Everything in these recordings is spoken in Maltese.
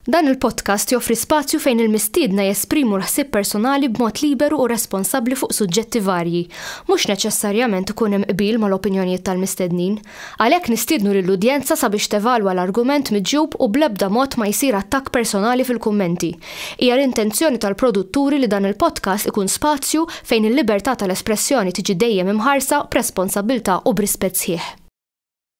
Dan il-podcast joffri spazju fejn il-mistiedna jesprimu l-ħsieb personali b'mod liberu u responsabbli fuq suġġetti varji. Mhux neċessarjament ikun hemm qbil mal-opinjonijiet tal-mistednin. Għalhekk nistiednu lill-udjenza sabiex tevalwa l-argument miġjub u bl-ebda mod ma jsir attakk personali fil-kummenti. Hija l-intenzjoni tal-produtturi li dan il-podcast ikun spazju fejn il-libertà tal-espressjoni tiġi dejjem imħarsa b'responsabbiltà u b'rispett sħiħ.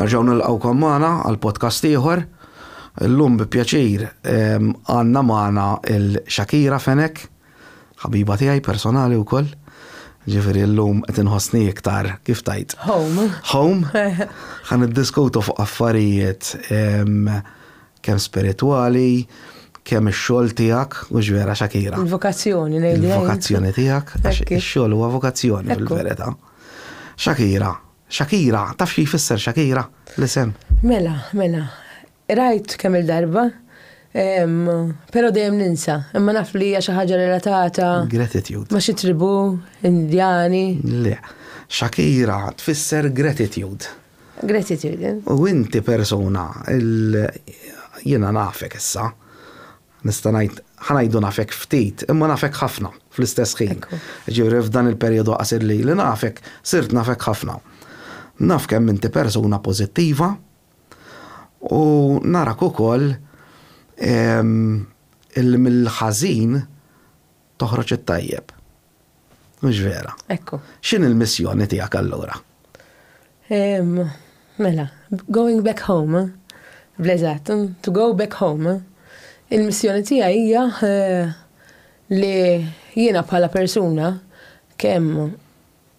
Nerġaw nilqawkom magħna għal podcast ieħor. Illum bi pjaċir ehm, għandna magħna il-Shakira Fenek, ħabiba tiegħi personali wkoll. Ġifieri llum qed inħossni iktar kif tajt. Home. Home. Ħan iddiskutu fuq affarijiet ehm, Kemm spiritwali, kemm ix-xogħol tiegħek, mhux vera Shakira? Il-vokazzjoni ngħidlha jien. Il-vokazzjoni tiegħek, għax ix-xogħol huwa vokazzjoni fil-verità. Shakira, Shakira, taf xi jfisser Shakira, l-isem? Mela, mela, rajt kemm il-darba, però dejjem ninsa, imma naf li hija xi ħaġa relatata. Gratitude. Ma' xi tribù Indjani. Le, Shakira tfisser gratitude. Grazzi Jürgen. U inti persuna il jiena nafek issa, nista' ngħid ħa ngħidu nafek ftit, imma nafek ħafna fl-istess ħin. Ġifieri f'dan il-perjodu qasir li ili nafek, sirt nafek ħafna. Naf kemm inti persuna pożittiva u narak ukoll illi mill-ħażin Toħroġ it-tajjeb. Mhux vera. Ekku. X'in il-missjoni tiegħek allura? Ehm, mela, going back home, bleżat, to go back home, il-missjoni tiegħi hija eh, li jiena bħala persuna kemm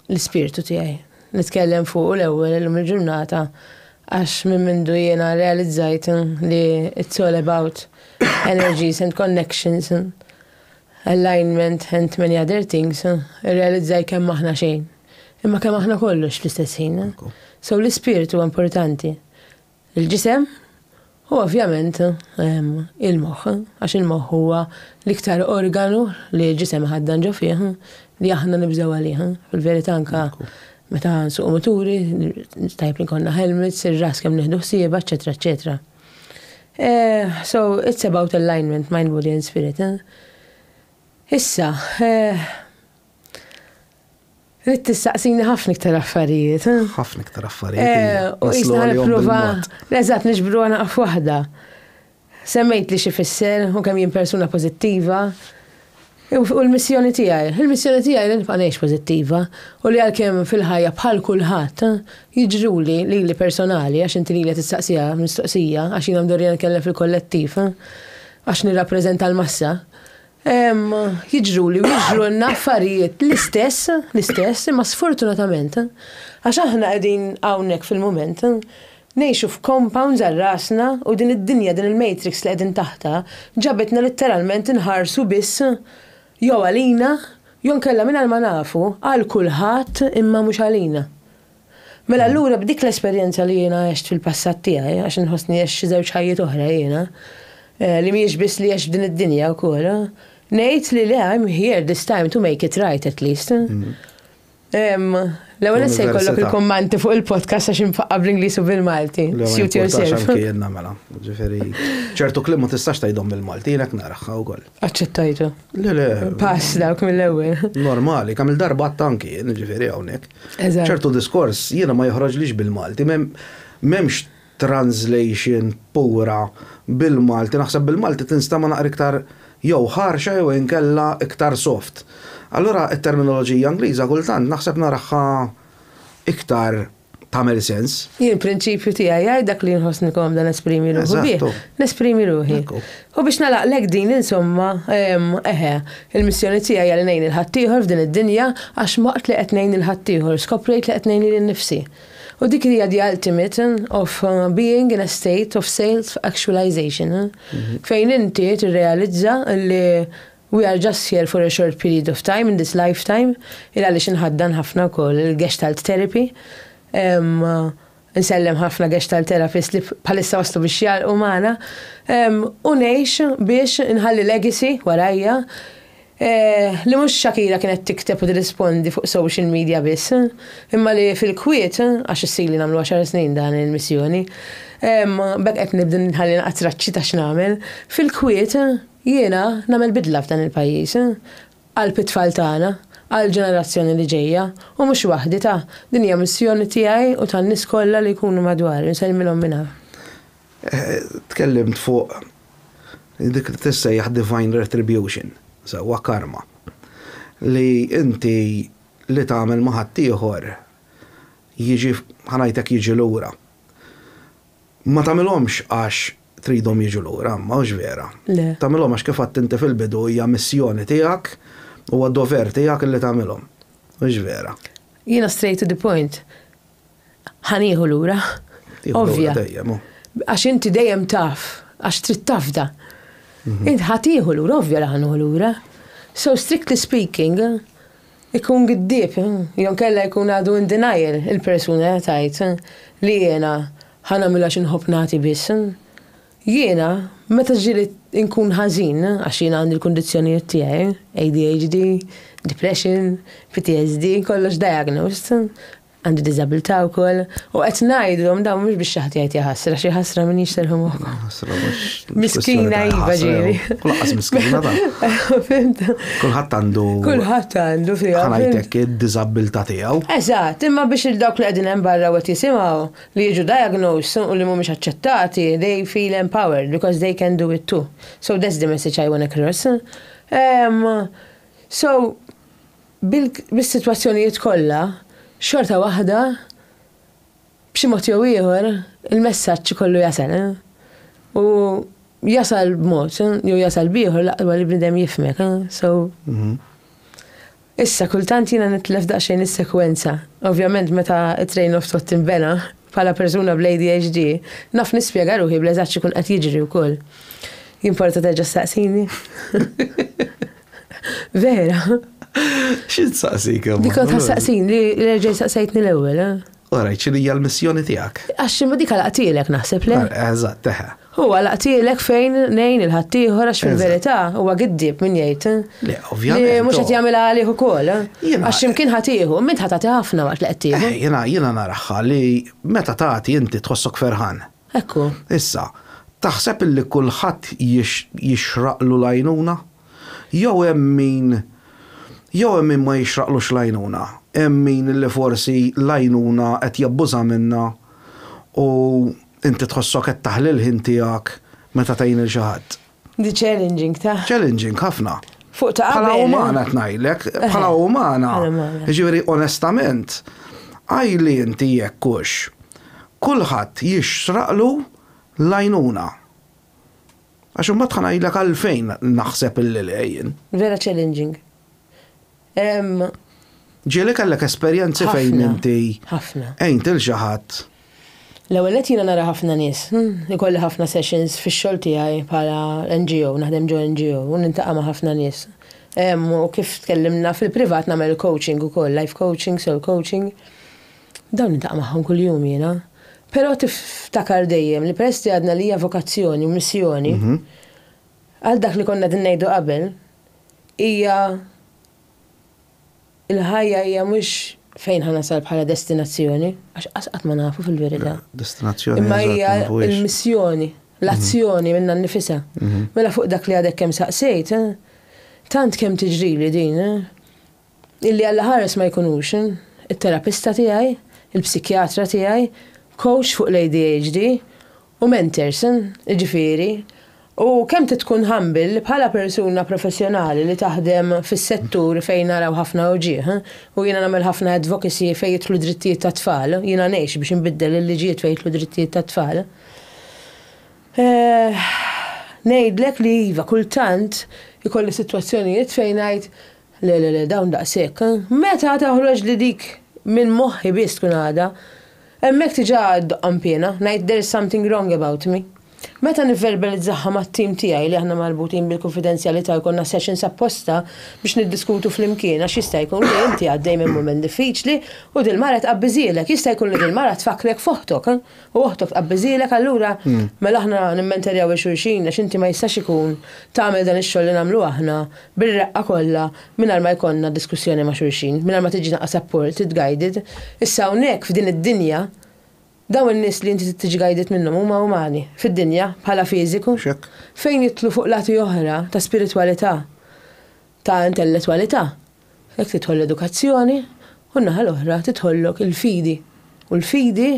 l-ispirtu tiegħi. Nitkellem fuqu l-ewwel illum il-ġurnata għax minn mindu jiena rrealizzajt li it's all about energies and connections, alignment and many other things, irrealizzajt kemm aħna xejn. Imma kemm aħna kollox fl-istess ħin. So l-ispirtu huwa importanti. Il-ġisem u ovvjament il-moħħ, għax il-moħħ huwa l-iktar organu li l-ġisem iħaddan ġo fih li aħna nibżgħu għalih. Fil-verità anke meta nsuqu muturi, tajjeb li jkollna helmets, ir-ras kemm nieħdu ħsiebha, eċċetera eċċetera. Eh, so it's about alignment, mind, body and spirit. Eh? Issa, eh, Rid tistaqsini ħafna iktar affarijiet. Eh? Ħafna iktar affarijiet. Eh, u jisna nipprova. Eżatt, nixbru għana għaf waħda. Semmejt li xi fisser u kemm jien persuna pożittiva. U l-missjoni tiegħi, il-missjoni tiegħi li nibqa' ngħix pożittiva u li għalkemm fil-ħajja bħal kulħadd eh, jiġruli li li personali għax inti li tistaqsija mistoqsija għax jiena mdorri nkellem fil-kollettiv eh, għax nirrappreżenta l-massa. jiġruli u jiġrulna affarijiet l-istess, l-istess, imma sfortunatament, għax aħna qegħdin hawnhekk fil-mument, ngħixu f'compounds għal rasna u din id-dinja, din il-matrix li qegħdin taħtha, ġabitna litteralment inħarsu biss jew għalina, jew inkella mingħajr ma nafu, għal kulħadd imma mhux għalina. Mela allura b'dik l-esperjenza li jiena għext fil-passat tiegħi, għax inħossni għex xi żewġ ħajjiet oħra jiena, eh, li mhijiex biss li għext f'din id-dinja wkoll, eh, ngħid li le I'm here this time to make it right at least. Mm-hmm. L-ewwel se jkollok il-kummanti fuq il-podcast għax infaqqa bl-Ingliż u bil-Malti. Suit yourself. Mela, ġifieri ċertu klim ma tistax tgħidhom bil-Malti, jiena naraħħa wkoll. Aċċettajtu. Le, le. Pass dawk mill-ewwel. Normali, kamil darba tanki, ġifieri hawnhekk. ċertu diskors jiena ma joħroġlix bil-Malti, m'hemmx translation pura bil-Malti, naħseb bil-Malti tinsta ma naqra iktar jew ħarxa jew inkella iktar soft. Allura it-terminoloġija Ingliża kultant naħseb naraħħa iktar tagħmel sens. Jien prinċipju tiegħi jgħid dak li jinħossni komda nesprimi ruħi bih. Nesprimi ruħi. U biex nalaqlek din insomma, eħe, il-missjoni tiegħi għal ngħin il-ħaddieħor f'din id-dinja għax waqt li qed ngħin il-ħaddieħor skoprejt li qed ngħin lili nnifsi. U dik hija the ultimate eh, of eh, being in a state of self-actualization. Eh. Mhm. Fejn inti tirrealizza li We are just here for a short period of time in this lifetime, il għaliex inħaddan ħafna wkoll il-Gestalt Therapy. Insellem ħafna Gestalt Therapist li bħalissa waslu biex jagħlqu magħna. U ngħix biex inħalli legacy warajja li mhux Shakira kienet tikteb u tirrispondi fuq social media biss, imma li fil-kwiet, għax issirli nagħmlu għaxar snin dan il-missjoni, b'hekk qed nibda nħalli naqgħa traċċi ta' x'nagħmel, fil-kwiet, Jiena nagħmel bidla f'dan il-pajjiż, qalb it-tfal tagħna, għall-ġenerazzjoni li ġejja, u mhux waħdi ta, din hija missjoni tiegħi u tan-nies kollha li jkunu madwari, nsellmilhom minn hawn. Tkellimt fuq dik li tissejjaħ divine retribution, sewwa karma, li inti li tagħmel ma' ħaddieħor jiġi, ħa ngħidlek jiġi lura. Ma tagħmilhomx għax tridhom jiġu lura, imma hux vera. Le. Tagħmilhom għax kif għedt inti fil-bidu hija missjoni tiegħek, huwa dover tiegħek illi tagħmilhom. Hux vera. Jiena straight to the point. Ħa nieħu lura. Ovvja. Għax inti dejjem taf, għax trid tafda. Mhm. Int ħa tieħu lura, ovvja li ħa lura. So strictly speaking, Ikun giddieb, jew inkella jkun għadu in denial il-persuna li qed tgħid li jiena ħa nagħmilha xi nħobb nagħti biss. Jiena meta ġieli nkun ħażin, għax jiena għandi l-kundizzjonijiet tiegħi, ADHD, depression, PTSD, kollox diagnosed, għandi diżabilità wkoll u qed ngħidlhom dawn mhux biex xi ħadd jgħid jaħasra xi ħasra min jixterħu moħħkom. Miskina iva ġieli. Kulħadd miskina ta. Kulħadd għandu. Kulħadd għandu fiha. Ħanajtek id-diżabilità tiegħu. Eżatt, imma biex il-dawk li qegħdin hemm barra wet jisimgħu li jiġu diagnosed u li mhumiex aċċettati, they feel empowered because they can do it too. So that's the message I want to cross. Um, so, bis-sitwazzjonijiet kollha, xorta waħda b'xi mod jew ieħor il-messaġġ ikollu jasal. U jasal b'mod jew jasal b'ieħor l-aqwa ma li bniedem jifhmek. So Issa kultant jiena nitlef daqsxejn is-sekwenza. Ovvjament meta t-train of thought tinbena bħala persuna bl-ADHD, naf nispjega ruħi bl-eżatt x'ikun qed jiġri wkoll. Jimporta terġa' ssaqsini? Vera? X'int saqsik imma? Dik ta' saqsin li reġgħi saqsejtni l-ewwel, eh? Ora, ċili hija l-missjoni tiegħek. Għax imma dik laqtielek naħseb le. Eh, eżatt, teħe. Huwa laqtielek fejn nejn il-ħaddieħor għax fil-verità huwa giddib min jgħid. Eh? Le, ovvjament. Li mhux qed jagħmilha għalih ukoll. Eh? Għax imkien ħatiħu, min ħatati ħafna waqt li qed tieħu. Jiena jiena naraħħa li meta tagħti inti tħossok ferħan. Hekk hu. Issa, taħseb illi kulħadd jixraqlu l-għajnuna? Jew hemm min jew hemm min ma jixraqlux l-għajnuna? Hemm min li forsi l-għajnuna qed jabbuża minnha u inti tħossok qed taħli l-ħin tiegħek meta tgħin lil xi ħadd? Di challenging ta'. Challenging ħafna. Fuq ta' Bħala umana tnajlek, bħala umana. Ġifieri onestament, għajli inti jekkux kulħadd jixraqlu lajnuna. Għax imbagħad ħanajlek għalfejn naħseb illi lejn. Vera challenging. Ġieli kellek esperjenzi fejn inti għint lil xi ħadd? L-ewwel nett jiena nara ħafna nies. Ikolli ħafna sessions fix-xogħol tiegħi bħala NGO, naħdem ġo NGO u niltaqa' ma' ħafna nies. U kif tkellimna fil-privat nagħmel il-coaching ukoll, life coaching, soul coaching. Dawn niltaqa' magħhom kuljum jiena. Però tiftakar dejjem li peress li għadna li hija vokazzjoni u missjoni, għal dak li konna qegħdin ngħidu qabel, hija il-ħajja hija mhux fejn ħa nasal bħala destinazzjoni, għax qas qatt ma nafu fil-verità. Destinazzjoni. Imma hija l-missjoni, l-azzjoni minna nnifisha. Mela fuq dak li għadek kemm saqsejt, tant kemm tiġrili din, Li Alla ħares ma jkunux, it-terapista tiegħi, il-psikjatra tiegħi, kowċ fuq l-ADHD, u mentors, jiġifieri, u kemm trid tkun humble li bħala persuna professjonali li taħdem fis-settur fejn naraw ħafna uġigħ, u jiena nagħmel ħafna advocacy fejn jidħlu drittijiet tat-tfal, jiena ngħix biex inbiddel il-liġijiet fejn jidħlu drittijiet tat-tfal, ngħidlek li iva, kultant ikolli sitwazzjonijiet fejn ngħid Le le le, dawn daqshekk. Meta toħroġ li dik minn moħħi biss tkun għadha. Hemmhekk diġà ddoqqhom piena, ngħid there's something wrong about me. Meta nivverbalizzahha mat-tim tiegħi li aħna marbutin bil-kunfidenzjalità jkollna sessions apposta biex niddiskutu flimkien għax jista' jkun li inti għaddej minn mument diffiċli u dil-mara tqabbiżhielek, jista' jkun li dil-mara tfakkrek f'oħtok. U oħtok tqabbiżilek allura mela aħna nimmenterjaw il xulxin għax inti ma jistax ikun tagħmel dan ix-xogħol li nagħmlu aħna bir-reqqa kollha mingħajr ma jkollna diskussjoni ma' xulxin, mingħajr ma tiġina asapported, guided. Issa hawnhekk f'din id-dinja dawn in-nies li inti trid tiġi guided minnhom huma umani, fid-dinja, bħala fiżiku. Fejn jidħlu fuq lati oħra ta' spiritwalità ta' intellettwalità, hekk tidħol l-edukazzjoni u n-naħa l-oħra tidħollok il-fidi. U l-fidi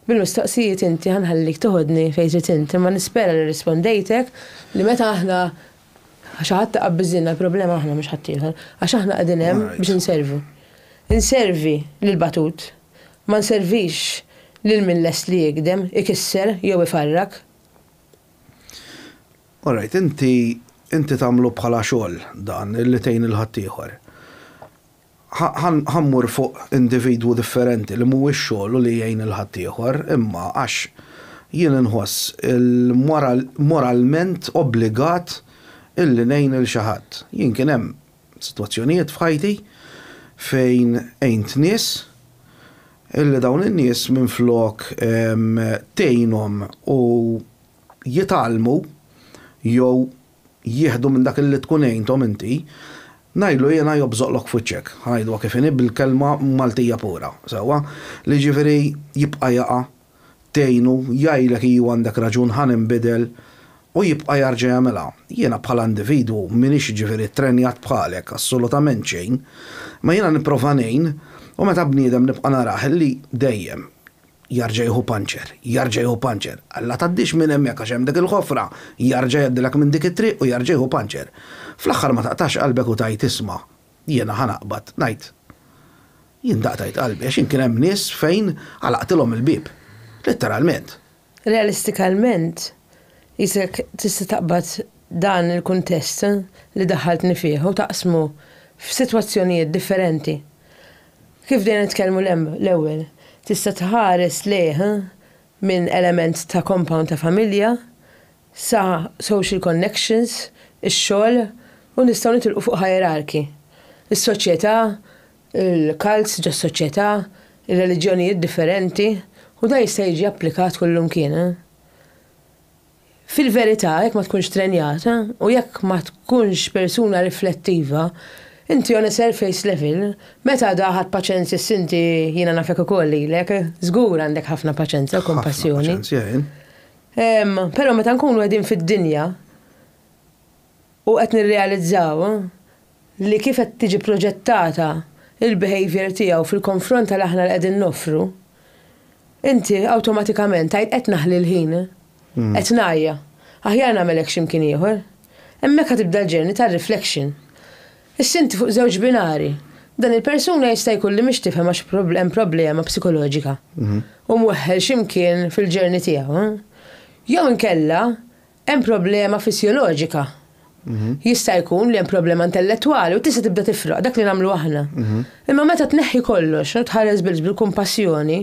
bil-mistoqsijiet inti ħa nħallik toħodni fejn trid int, imma nispera li rrispondejtek li meta aħna xi ħadd iqabbiżilna l-problema aħna mhux ħaddieħor, għax aħna qegħdin hemm biex inservu. Inservi lill-batut, ma nservix lil min lest li jigdem, ikisser jew ifarrak. All right, inti, inti tagħmlu bħala xogħol dan, li tgħin lil ħaddieħor. Ħa, ħa mmur fuq individwu differenti li mhuwiex xogħlu li jgħin lil ħaddieħor, imma għax jien inħoss il-moral, moralment obbligat illi ngħin lil xi ħadd. Jien kien hemm sitwazzjonijiet f'ħajti fejn għint nies illi dawn in-nies minflok tgħinhom u, jitgħallmu jew jieħdu minn dak li tkun għinthom inti, ngħidlu jiena jobżoqlok f'wiċċek, ħa ngħidluha kif inhi bil-kelma Maltija pura, sewwa? Li jiġifieri jibqa' jaqa', tgħinu, jgħidlek iju għandek raġun ħa ninbidel u jibqa' jarġa' jagħmilha. Jiena bħala individwu m'iniex jiġifieri ttrenjat bħalek, assolutament xejn, imma jiena nipprova ngħin u meta bniedem nibqa' narah li dejjem, Jarġa' jieħu puncher, jarġa' jieħu puncher. Alla tgħaddix minn hemmhekk għax hemm dik il-ħofra, jarġa' jgħaddilek minn dik it-triq u jarġa' jieħu puncher. Fl-aħħar ma taqtax qalbek u tgħid isma', jiena ħa naqbad, ngħid. Jien daqtajt qalbi għax jien kien hemm nies fejn għalaqtilhom il-bieb. Litteralment. Realistikalment, qisek tista' taqbad dan il-kuntest li daħħaltni fih u taqsmu f'sitwazzjonijiet differenti. Kif bdejna nitkellmu l-ewwel, tista' tħares lejh minn element ta' compound ta' familja sa social connections, ix-xogħol u nistgħu nitilqu fuq hierarchy. Is-soċjetà, il-cults ġos-soċjetà, ir-reliġjonijiet differenti u dan jista' jiġi applikat kullumkien. Fil-verità, jekk ma tkunx trenjata u jekk ma tkunx persuna riflettiva, inti on a surface level, meta għadha ħadt paċenzja s-sinti jiena nafek ukoll lilek, żgur għandek ħafna paċenza u kompassjoni. Ħafna paċenzja jien. Ehm, però meta nkunu qegħdin fid-dinja, u qed nirrealizzaw li kif qed tiġi proġettata il-behavior tiegħu fil-konfront tal aħna li qegħdin noffru, inti awtomatikament tgħid qed naħli l-ħin, qed ngħajja, aħjar nagħmel hekk xi mkien ieħor. Hemmhekk ħa tibda l-journey tar-reflection. Issa inti fuq żewġ binari. Dan il-persuna jista' jkun li mhix tifhem għax hemm problema psikoloġika u mweħħel xi mkien fil-journey tiegħu. Jew inkella Hemm problema fissjoloġika. Jista' jkun li hemm problema intellettwali u tista' tibda tifraq dak li nagħmlu aħna. Imma meta tneħħi kollox u tħares biss bil-kumpassjoni,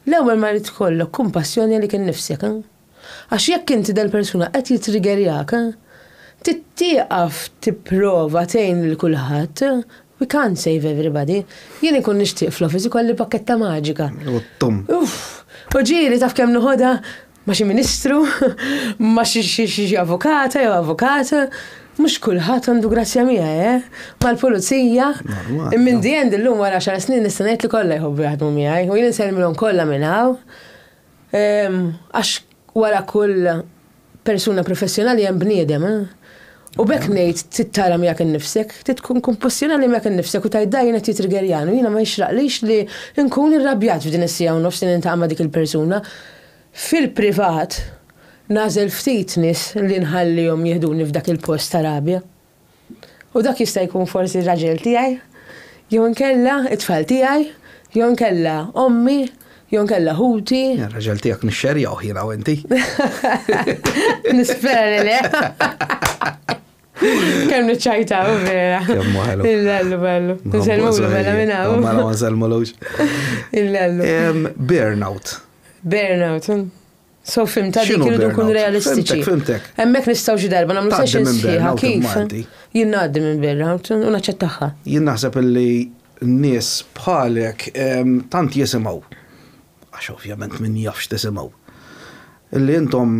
l-ewwel ma jrid ikollok kumpassjoni għalik innifsek. Għax jekk inti dal-persuna qed jittrigerjak, trid tieqaf tipprova tgħin lil kulħadd, we can't save everybody. Jien inkun nixtieq fl-office ikolli pakketta maġika. U t-tum. Uff! U ġieli taf kemm noħodha? ma' xi ministru, ma' xi avukata jew avukat, mhux kulħadd għandu grazzja miegħi, eh? Mal-pulizija, minn di għand illum wara xar snin nista' ngħid li kollha jħobbu jaħdmu miegħi, u jien insellmilhom kollha minn hawn. Ehm, għax wara kull persuna professjonali hemm bniedem, eh? U b'hekk ngħid trid tara miegħek innifsek, trid tkun kumpassjonali miegħek innifsek u tgħid da jien qed jitrigerjani u jiena ma jixraqlix li nkun irrabjat f'din is-siegħa u nofs li niltaqa' ma' dik il-persuna. Fil-privat, nagħżel ftit nies li nħallihom jiħduni f'dak il-post ta' rabja. U dak jista' jkun forsi r-raġel tiegħi, jew inkella t-tfal tiegħi, jew inkella ommi, Jew inkella ħuti. Ir-raġel tiegħek nixxerjawh jiena u inti. Nispera li le. Kemm niċċajtaw vera. Kemm waħlu. Il-lellu bellu. Nżelmulu bella minn hawn. Ma nżelmulux. Il-lellu. Burnout. Burnout. So fimta dik X'inhu irridu nkunu burnout? realistiċi. Fimtek, fimtek. Hemmhekk nistgħu xi darba nagħmlu Tgħaddi sessions minn sħiħa burnout kif il-Malti. jien ngħaddi minn burnout u naċċettaha. Jien naħseb illi nies bħalek em, tant jisimgħu, għax ovvjament min jafx tisimgħu, illi intom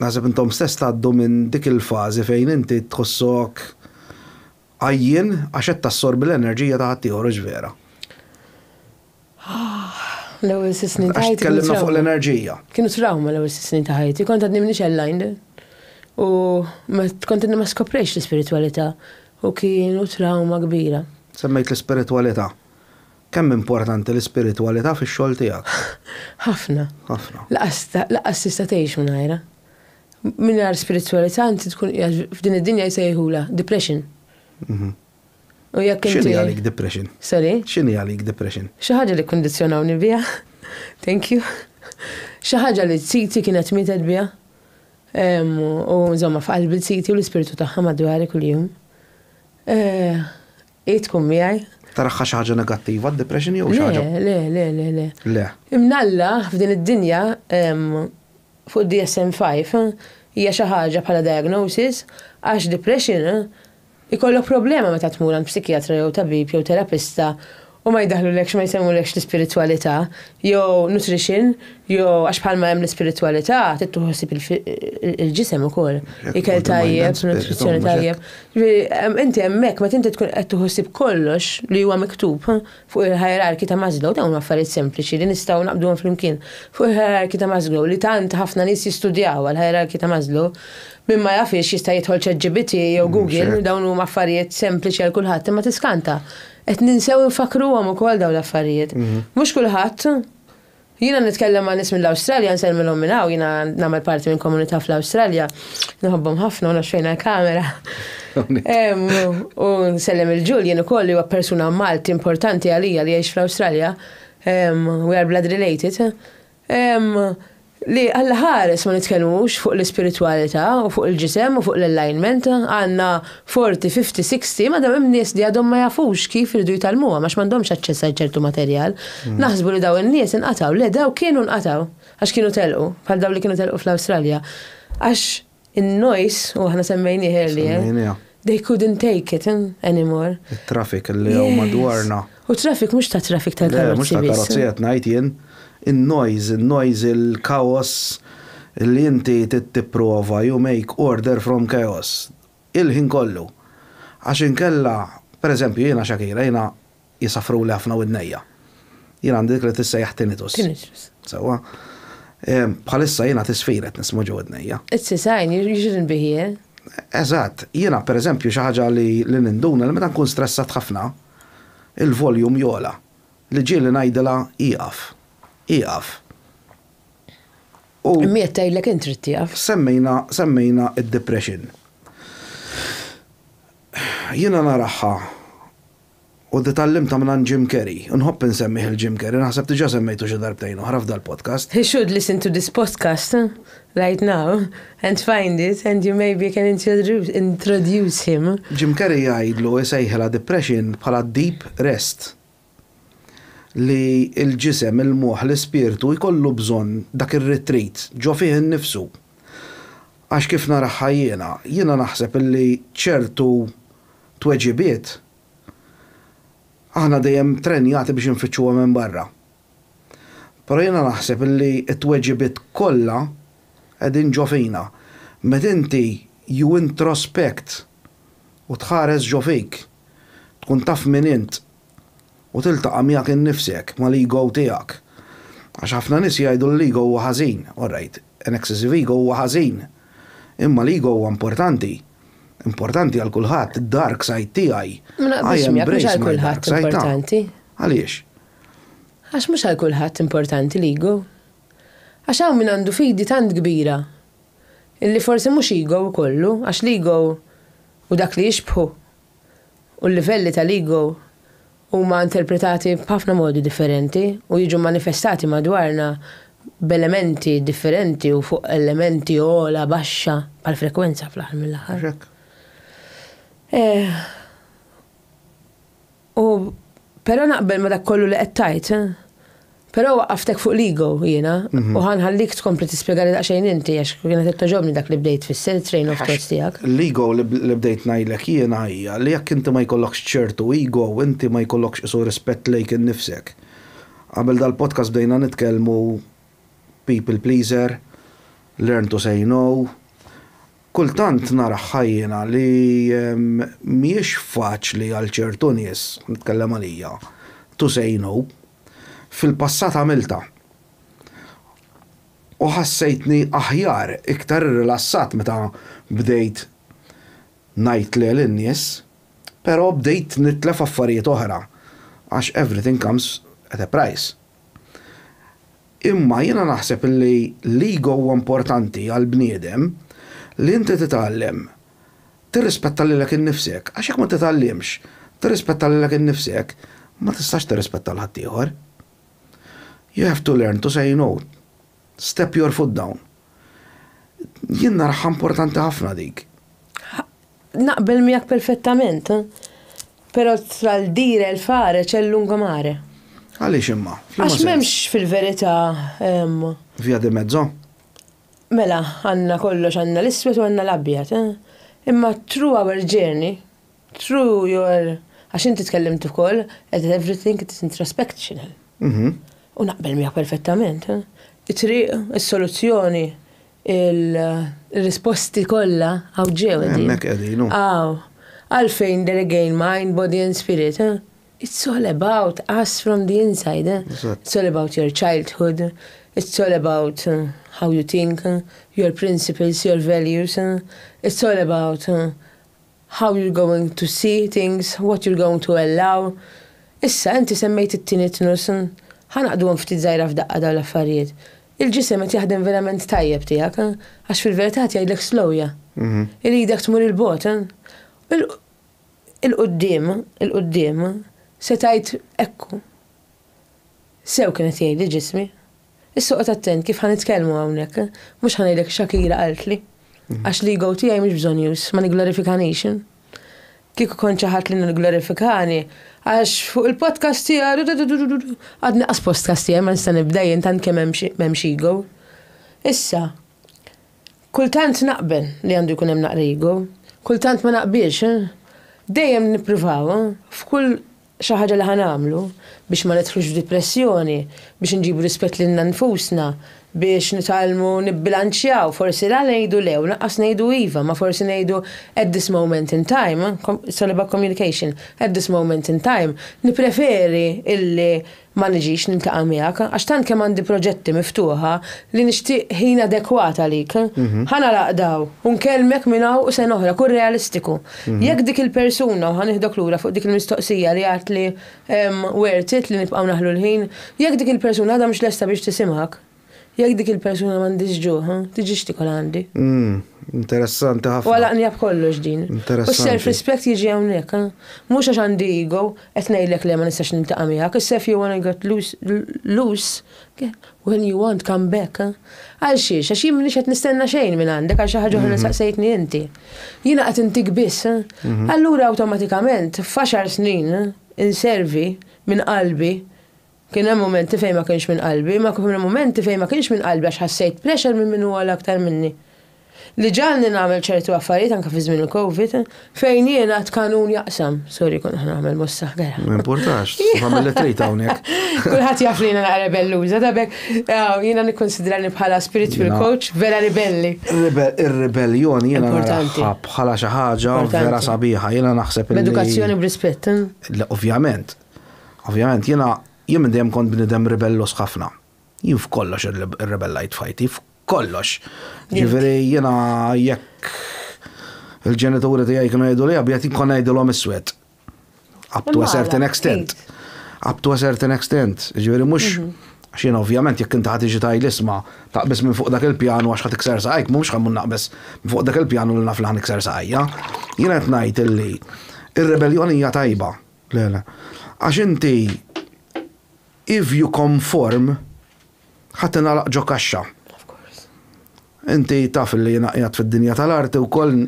naħseb intom stess tgħaddu minn dik il-fażi fejn inti tħossok Għajjien għax qed tassorbi l-enerġija ta' ħaddieħor hux vera? L-ewwel sitt snin ta' ħajti. Għax tkellimna fuq l-enerġija. Kienu trawma l-ewwel sitt snin ta' ħajti, kont għadni minix aligned. U kont għadni ma skoprejx l-ispiritwalità u kienu trawma kbira. Semmejt l-ispiritwalità. Kemm importanti l-ispiritwalità fix-xogħol tiegħek? Ħafna. Ħafna. Laqas tista' tgħix mingħajrha. Mingħajr spiritwalità inti tkun qiegħed f'din id-dinja jsejħulha depression. Mhm. U jekk inti. X'inhi għalik depression? Sorry? X'inhi għalik depression? Xi ħaġa li kkundizzjonawni biha. Thank you. Xi ħaġa li t-siti kienet mietet biha. U żomma f'qalbi t-siti u l-ispirtu tagħha madwari kuljum. Eh, hi tkun miegħi. Taraħħa xi ħaġa negattiva d-depression jew xi ħaġa? Le, le, le, le. Le. Imnalla f'din id-dinja fuq id-DSM five hija xi ħaġa bħala diagnosis għax depression ikollok problema meta tmur għand psikjatra jew tabib jew terapista u ma jdaħħlulekx ma jsemmulekx l-ispiritwalità jew nutrition jew għax bħalma hemm l-ispiritwalità trid tieħu ħsieb il-ġisem ukoll ikel tajjeb nutrizzjoni tajjeb. Jiġifieri inti hemmhekk meta inti tkun qed tieħu ħsieb kollox li huwa miktub Fuq il-ħijerarkji ta' Maslow, dawn huma affarijiet sempliċi li nistgħu naqbduhom flimkien. Fuq il-ħijerarkji ta' Maslow, li tant ħafna nies jistudjawha, l-ħijerarkji ta' Maslow, min ma jafhiex jista' jidħol ChatGPT jew Google, dawn huma affarijiet sempliċi għal kulħadd, imma tiskanta, qed ninsew infakkruhom ukoll dawn l-affarijiet. Mhux kulħadd Jiena nitkellem ma' nies mill-Awstralja, nsellmilhom minn hawn, jiena nagħmel parti minn komunità fl-Awstralja, nħobbhom ħafna u naxxejna l-kamera. U nsellem il-Ġul jien ukoll li huwa persuna Malti importanti għalija li jgħix fl-Awstralja. We are blood related. Li Alla ħares ma nitkellmux fuq l-ispiritwalità u fuq il-ġisem u fuq l-alignment, għandna Forty, fifty, sixty, madam hemm nies li għadhom ma jafux kif iridu jitgħallmuhom għax m'għandhomx aċċess għal ċertu materjal. Naħsbu li dawn in-nies inqatgħu. Le, dawk kienu nqatgħu għax kienu telqu, bħal dawn li kienu telqu fl-Awstralja. Għax in-noise, u aħna semmejnieh earlier, Semmejniha. they couldn't take it anymore. It-traffic li hawn madwarna. U traffic mhux ta' traffic Le, mhux tal-karozzi ta' biss. karozzi qed ngħid jien. In-noise, in-noise, il-kaos li inti trid tipprova, you make order from chaos. il-ħin kollu għax inkella, per eżempju, jiena Shakira, jiena jisaffruli ħafna widnejja. Jien għandi dik li tissejjaħ tinnitus. Tinnitus. Sewwa. Bħalissa jiena tisfir qed nisma' ġo widnejja. It's a sign, you shouldn't be here. Eżatt, jiena per eżempju xi ħaġa li ninduna li meta nkun stressat ħafna, il-volume jogħla li ġieli ngħidilha ieqaf, ieqaf. Imma qed tgħidlek int trid tieqaf. Semmejna, semmejna d-depression. Jiena naraha u tgħallimtha mingħand Jim Carrey, u nħobb insemmih lil Jim Carrey, naħseb diġà semmejtu xi darbtejn oħra f'dal-podcast. He should listen to this podcast right now and find it and you maybe can introduce him. Jim Carrey jgħidlu, jsejħilha depression bħala deep rest. li l-ġisem, il-moħħ, l-ispirtu jkollu bżonn dak ir-retreat ġo fih innifsu. Għax kif naraha jiena, jiena naħseb illi ċertu tweġibiet aħna dejjem trenjati biex infittxuhom hemm barra. Però jiena naħseb illi t-tweġibiet kollha qegħdin ġo fina. Meta inti you introspect u tħares ġo fik, tkun taf min int, u tiltaqa' miegħek innifsek, mal-ego tiegħek. Għax ħafna nies jgħidu li l-ego huwa ħażin. Orajt, an excessive ego huwa ħażin. Imma l-ego huwa importanti. Importanti għal kulħadd, id-dark side tiegħi. Ma naqbilx miegħek, mhux għal kulħadd importanti. Għaliex? Għax mhux għal kulħadd importanti l-ego. Għax hawn min għandu fidi tant kbira illi forsi mhux ego ikollu, għax l-ego hu dak li jixbħu u l-livelli tal-ego huma interpretati b'ħafna modi differenti u jiġu manifestati madwarna b'elementi differenti u fuq elementi ogħla, baxxa, bħall-frekwenza fl-aħħar mill-aħħar. U però naqbel ma' dak kollu li qed tgħid. Però waqqaftek fuq l-ego jiena, mhm. u ħanħallik tkompli tispjegali daqsxejn inti għax kienet qed toġobni dak li bdejt fisser train of thoughts tiegħek. L-ego li bdejt ngħidlek jiena hija li jekk inti ma jkollokx ċertu ego, inti ma jkollokx isu rispett lejk innifsek. Qabel dal-podcast bdejna nitkellmu people pleaser, learn to say no. Kultant nara ħajjina li ehm, mhijiex faċli għal ċertu nies, nitkellem għalija, to say no. Fil-passat għamiltha u ħassejtni aħjar, iktar irrilassat meta bdejt ngħid le lin-nies, però bdejt nitlef affarijiet oħra għax everything comes at a price. Imma jiena naħseb li l-ego huwa importanti għall-bniedem li inti titgħallem tirrispetta lilek innifsek, għax jekk ma titgħallimx tirrispetta lilek innifsek, ma tistax tirrispetta 'l ħaddieħor. You have to learn to say no. Step your foot down. Jien naraha importanti ħafna dik. Naqbel miegħek perfettament. Però tral dire il fare c'è lungo mare. Għaliex imma? Għax m'hemmx fil-verità. Via di mezzo? Mela, għandna kollox għandna l-iswed u għandna l-abjad, eh? Imma true our journey, true your għax inti tkellimt ukoll at everything it is introspection. Mhm. U naqbel miegħek perfettament. Eh? It-triq, is-soluzzjoni, il-risposti kollha għaw ġew. Hemmhekk qegħdin. Għaw. Għalfejn there again mind, body and spirit, eh? It's all about us from the inside. It's all about your childhood. It's all about uh, how you think, uh, your principles, your values. Uh, it's all about how you're going to see things, what you're going to allow. Issa, inti semmejt it-tini tnus, ħanaqdu għan ftit zaħira f'daqqa daw l-affarijiet. Il-ġisem qed jaħdem verament tajjeb tiegħek, għax fil-verità jgħidlek slowja. Mhm. Iridek tmur il-bot. 'il quddiem, 'il quddiem, se tgħid hekku. Sew kien qed jgħidli ġismi. Issa oqgħod attent kif ħa nitkellmu hawnhekk, mhux ħa ngħidlek Shakira qaltli. Għax l-ego tiegħi mhux bżonnjuż, ma nigglorifikanix. Kieku kont xi ħadd li nigglorifikani, għax fuq il-podcast tiegħu dudududududu, għadni qas postcast tiegħi ma nista' nibda jien tant kemm m'hemmx ego. Issa. Kultant naqbel li għandu jkun hemm naqra ego, kultant ma naqbilx. Dejjem nippruvaw, f'kull xi ħaġa li ħa nagħmlu, biex ma nidħlux f'dipressjoni, biex inġibu rispett lilna nfusna, biex nitgħallmu nibbilanċjaw, forsi la ngħidu le u lanqas ngħidu iva, ma forsi ngħidu at this moment in time, it's all about communication, at this moment in time, nippreferi illi Ma niġix niltaqa' miegħek għax tant kemm għandi proġetti miftuħa li nixtieq ħin adekwat għalik. Ħa nagħlaq daw u nkellmek minn hawn u sena oħra, kun realistiku. Jekk dik il-persuna, u ħa nieħdok lura fuq dik il-mistoqsija li għidt li worth it li nibqgħu naħlu l-ħin, jekk dik il-persuna għadha mhux lesta biex tisimgħek, Jekk dik il-persuna m'għandhiex ġuħ, tiġix tikol għandi. Umm, interessanti ħafna. U għalaqnija b'kollox din. Interessanti. U s-self-respect jiġi hawnhekk. Mhux għax għandi ego qed ngħidlek le ma nistax niltaqa' miegħek, issa if you wanna get loose, when you want come back. Għal xiex? Għax jien m'iniex qed nistenna xejn minn għandek għal xi ħaġa oħra li saqsejtni inti. Jiena qed intik biss. Allura awtomatikament f'għaxar snin inservi minn qalbi Kien hemm mumenti fejn ma kienx minn qalbi, imma kien hemm mumenti fejn ma kienx minn qalbi għax ħassejt pressure minn min hu ogħla aktar minni. Li ġagħalni nagħmel ċertu affarijiet anke fi żmien il-Covid, fejn jien għad kanun jaqsam. Sorry kont qed nagħmel mossa ħdejha. Ma jimpurtax, tista' tagħmel li trid hawnhekk. Kulħadd jaf li jiena naqra rebelluża, ta' b'hekk jiena nikkunsidrani bħala spiritual coach vera ribelli. Ir-ribellion jiena naraha bħala xi ħaġa vera sabiħa, jiena naħseb li. B'edukazzjoni u b'rispett. Ovvjament, Ovvjament jiena jien minn dejjem kont bniedem ribellos ħafna. Jien f'kollox irrebellajt f'ħajti, f'kollox. Ġifieri jiena jekk il-ġenituri tiegħi kienu jgħidu li abjad jkun ngħidilhom iswed. Up to a certain extent. Up to a certain extent. Ġifieri mhux mhm. xien ovvjament jekk inti ħatiġi taj l-isma taqbis minn fuq dak il-pjanu għax ħat ikser saqajk, mhux ħammun naqbis minn fuq dak il-pjanu li naf li ħan ikser saqajja. Jien qed ngħid illi ir-rebelljoni hija tajba. Le, le. Għax inti, if you conform, ħa tingħalaq ġo kaxxa. Inti taf li jiena qiegħed fid-dinja tal-arti wkoll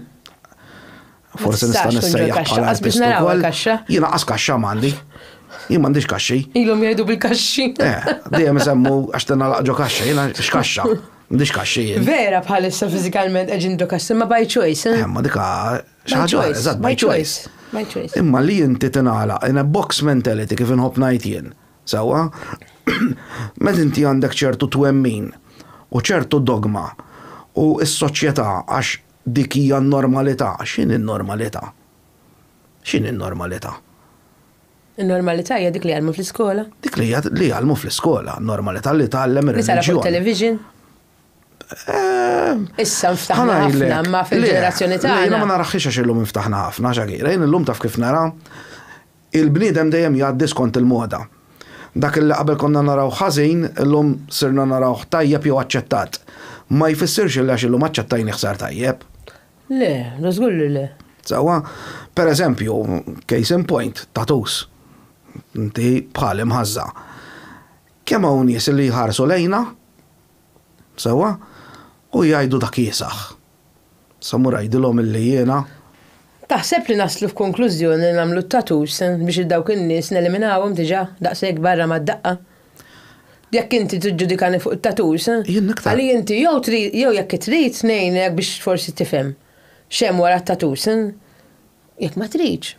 forsi nista' nissejjaħ bħala artist ukoll. Jiena qas kaxxa m'għandi. Jien m'għandix kaxxi. Ilhom jgħidu bil-kaxxi. Eh, dejjem isemmu għax tingħalaq ġo kaxxa, jiena x'kaxxa. M'għandix kaxxi. Vera bħalissa fiżikalment qegħdin ġo kaxxa, ma by choice. Eh, ma dika Xi ħaġa oħra, eżatt, by choice. My choice. Imma li inti tingħalaq in a box mentality kif inħobb ngħid jien. Sewwa? Meta inti għandek ċertu twemmin u ċertu dogma u s-soċjetà għax dik hija n-normalità, x'inhi n-normalità? X'inhi n-normalità? Il-normalità hija dik li jgħallmu fl-iskola. Dik li jgħallmu fl-iskola, normalità li tgħallem ir-reliġjon. Nisara fuq television. Issa nftaħna ħafna ma fil-ġenerazzjoni tagħna. Jiena ma naraħħiex għax illum nftaħna ħafna xakira. Jien illum taf kif nara il-bniedem dejjem jgħaddi skont il-moda. Dak li qabel konna naraw ħażin, illum sirna narawh tajjeb jew aċċettat. Ma jfissirx li għax illum aċċettajni ħsar tajjeb. Le, da żgur li le. Sewwa, per eżempju, case in point, tatus. Inti bħal imħażża. Kemm hawn nies li jħarsu lejna, sewwa, u jgħidu dak iesaħ. Sa mmur għidilhom illi jiena. Taħseb li naslu f'konklużjoni li nagħmlu t-tattoos biex lil dawk in-nies neliminawhom diġà daqshekk barra mad-daqqa? Jekk inti tiġġudikani fuq it-tattoos, għali inti jew trid jew jekk trid ngħinek biex forsi tifhem x'hemm wara t-tattoos. Jekk ma tridx,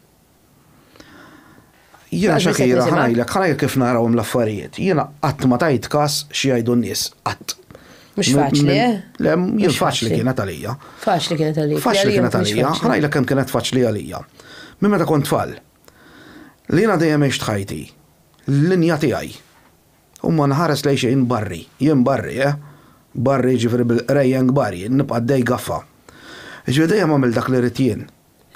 Jiena Shakira ħa ngħidlek, ħa ngħidlek kif narahom l-affarijiet. Jiena qatt ma tajt każ xi jgħidu n-nies, qatt. Mhux faċli, eh? Le, jien faċli kienet għalija. Faċli kienet għalija. Faċli kienet għalija, ħa ngħidlek kemm kienet faċli għalija. Minn meta kont tfal. Li jiena dejjem għext ħajti. L-linja tiegħi. U ma nħares lejn xejn barri, jien barri, eh? Barri ġifieri bil-qrejjen kbar jien, nibqa' dej gaffa. Ġifieri dejjem għamil dak li rrid jien.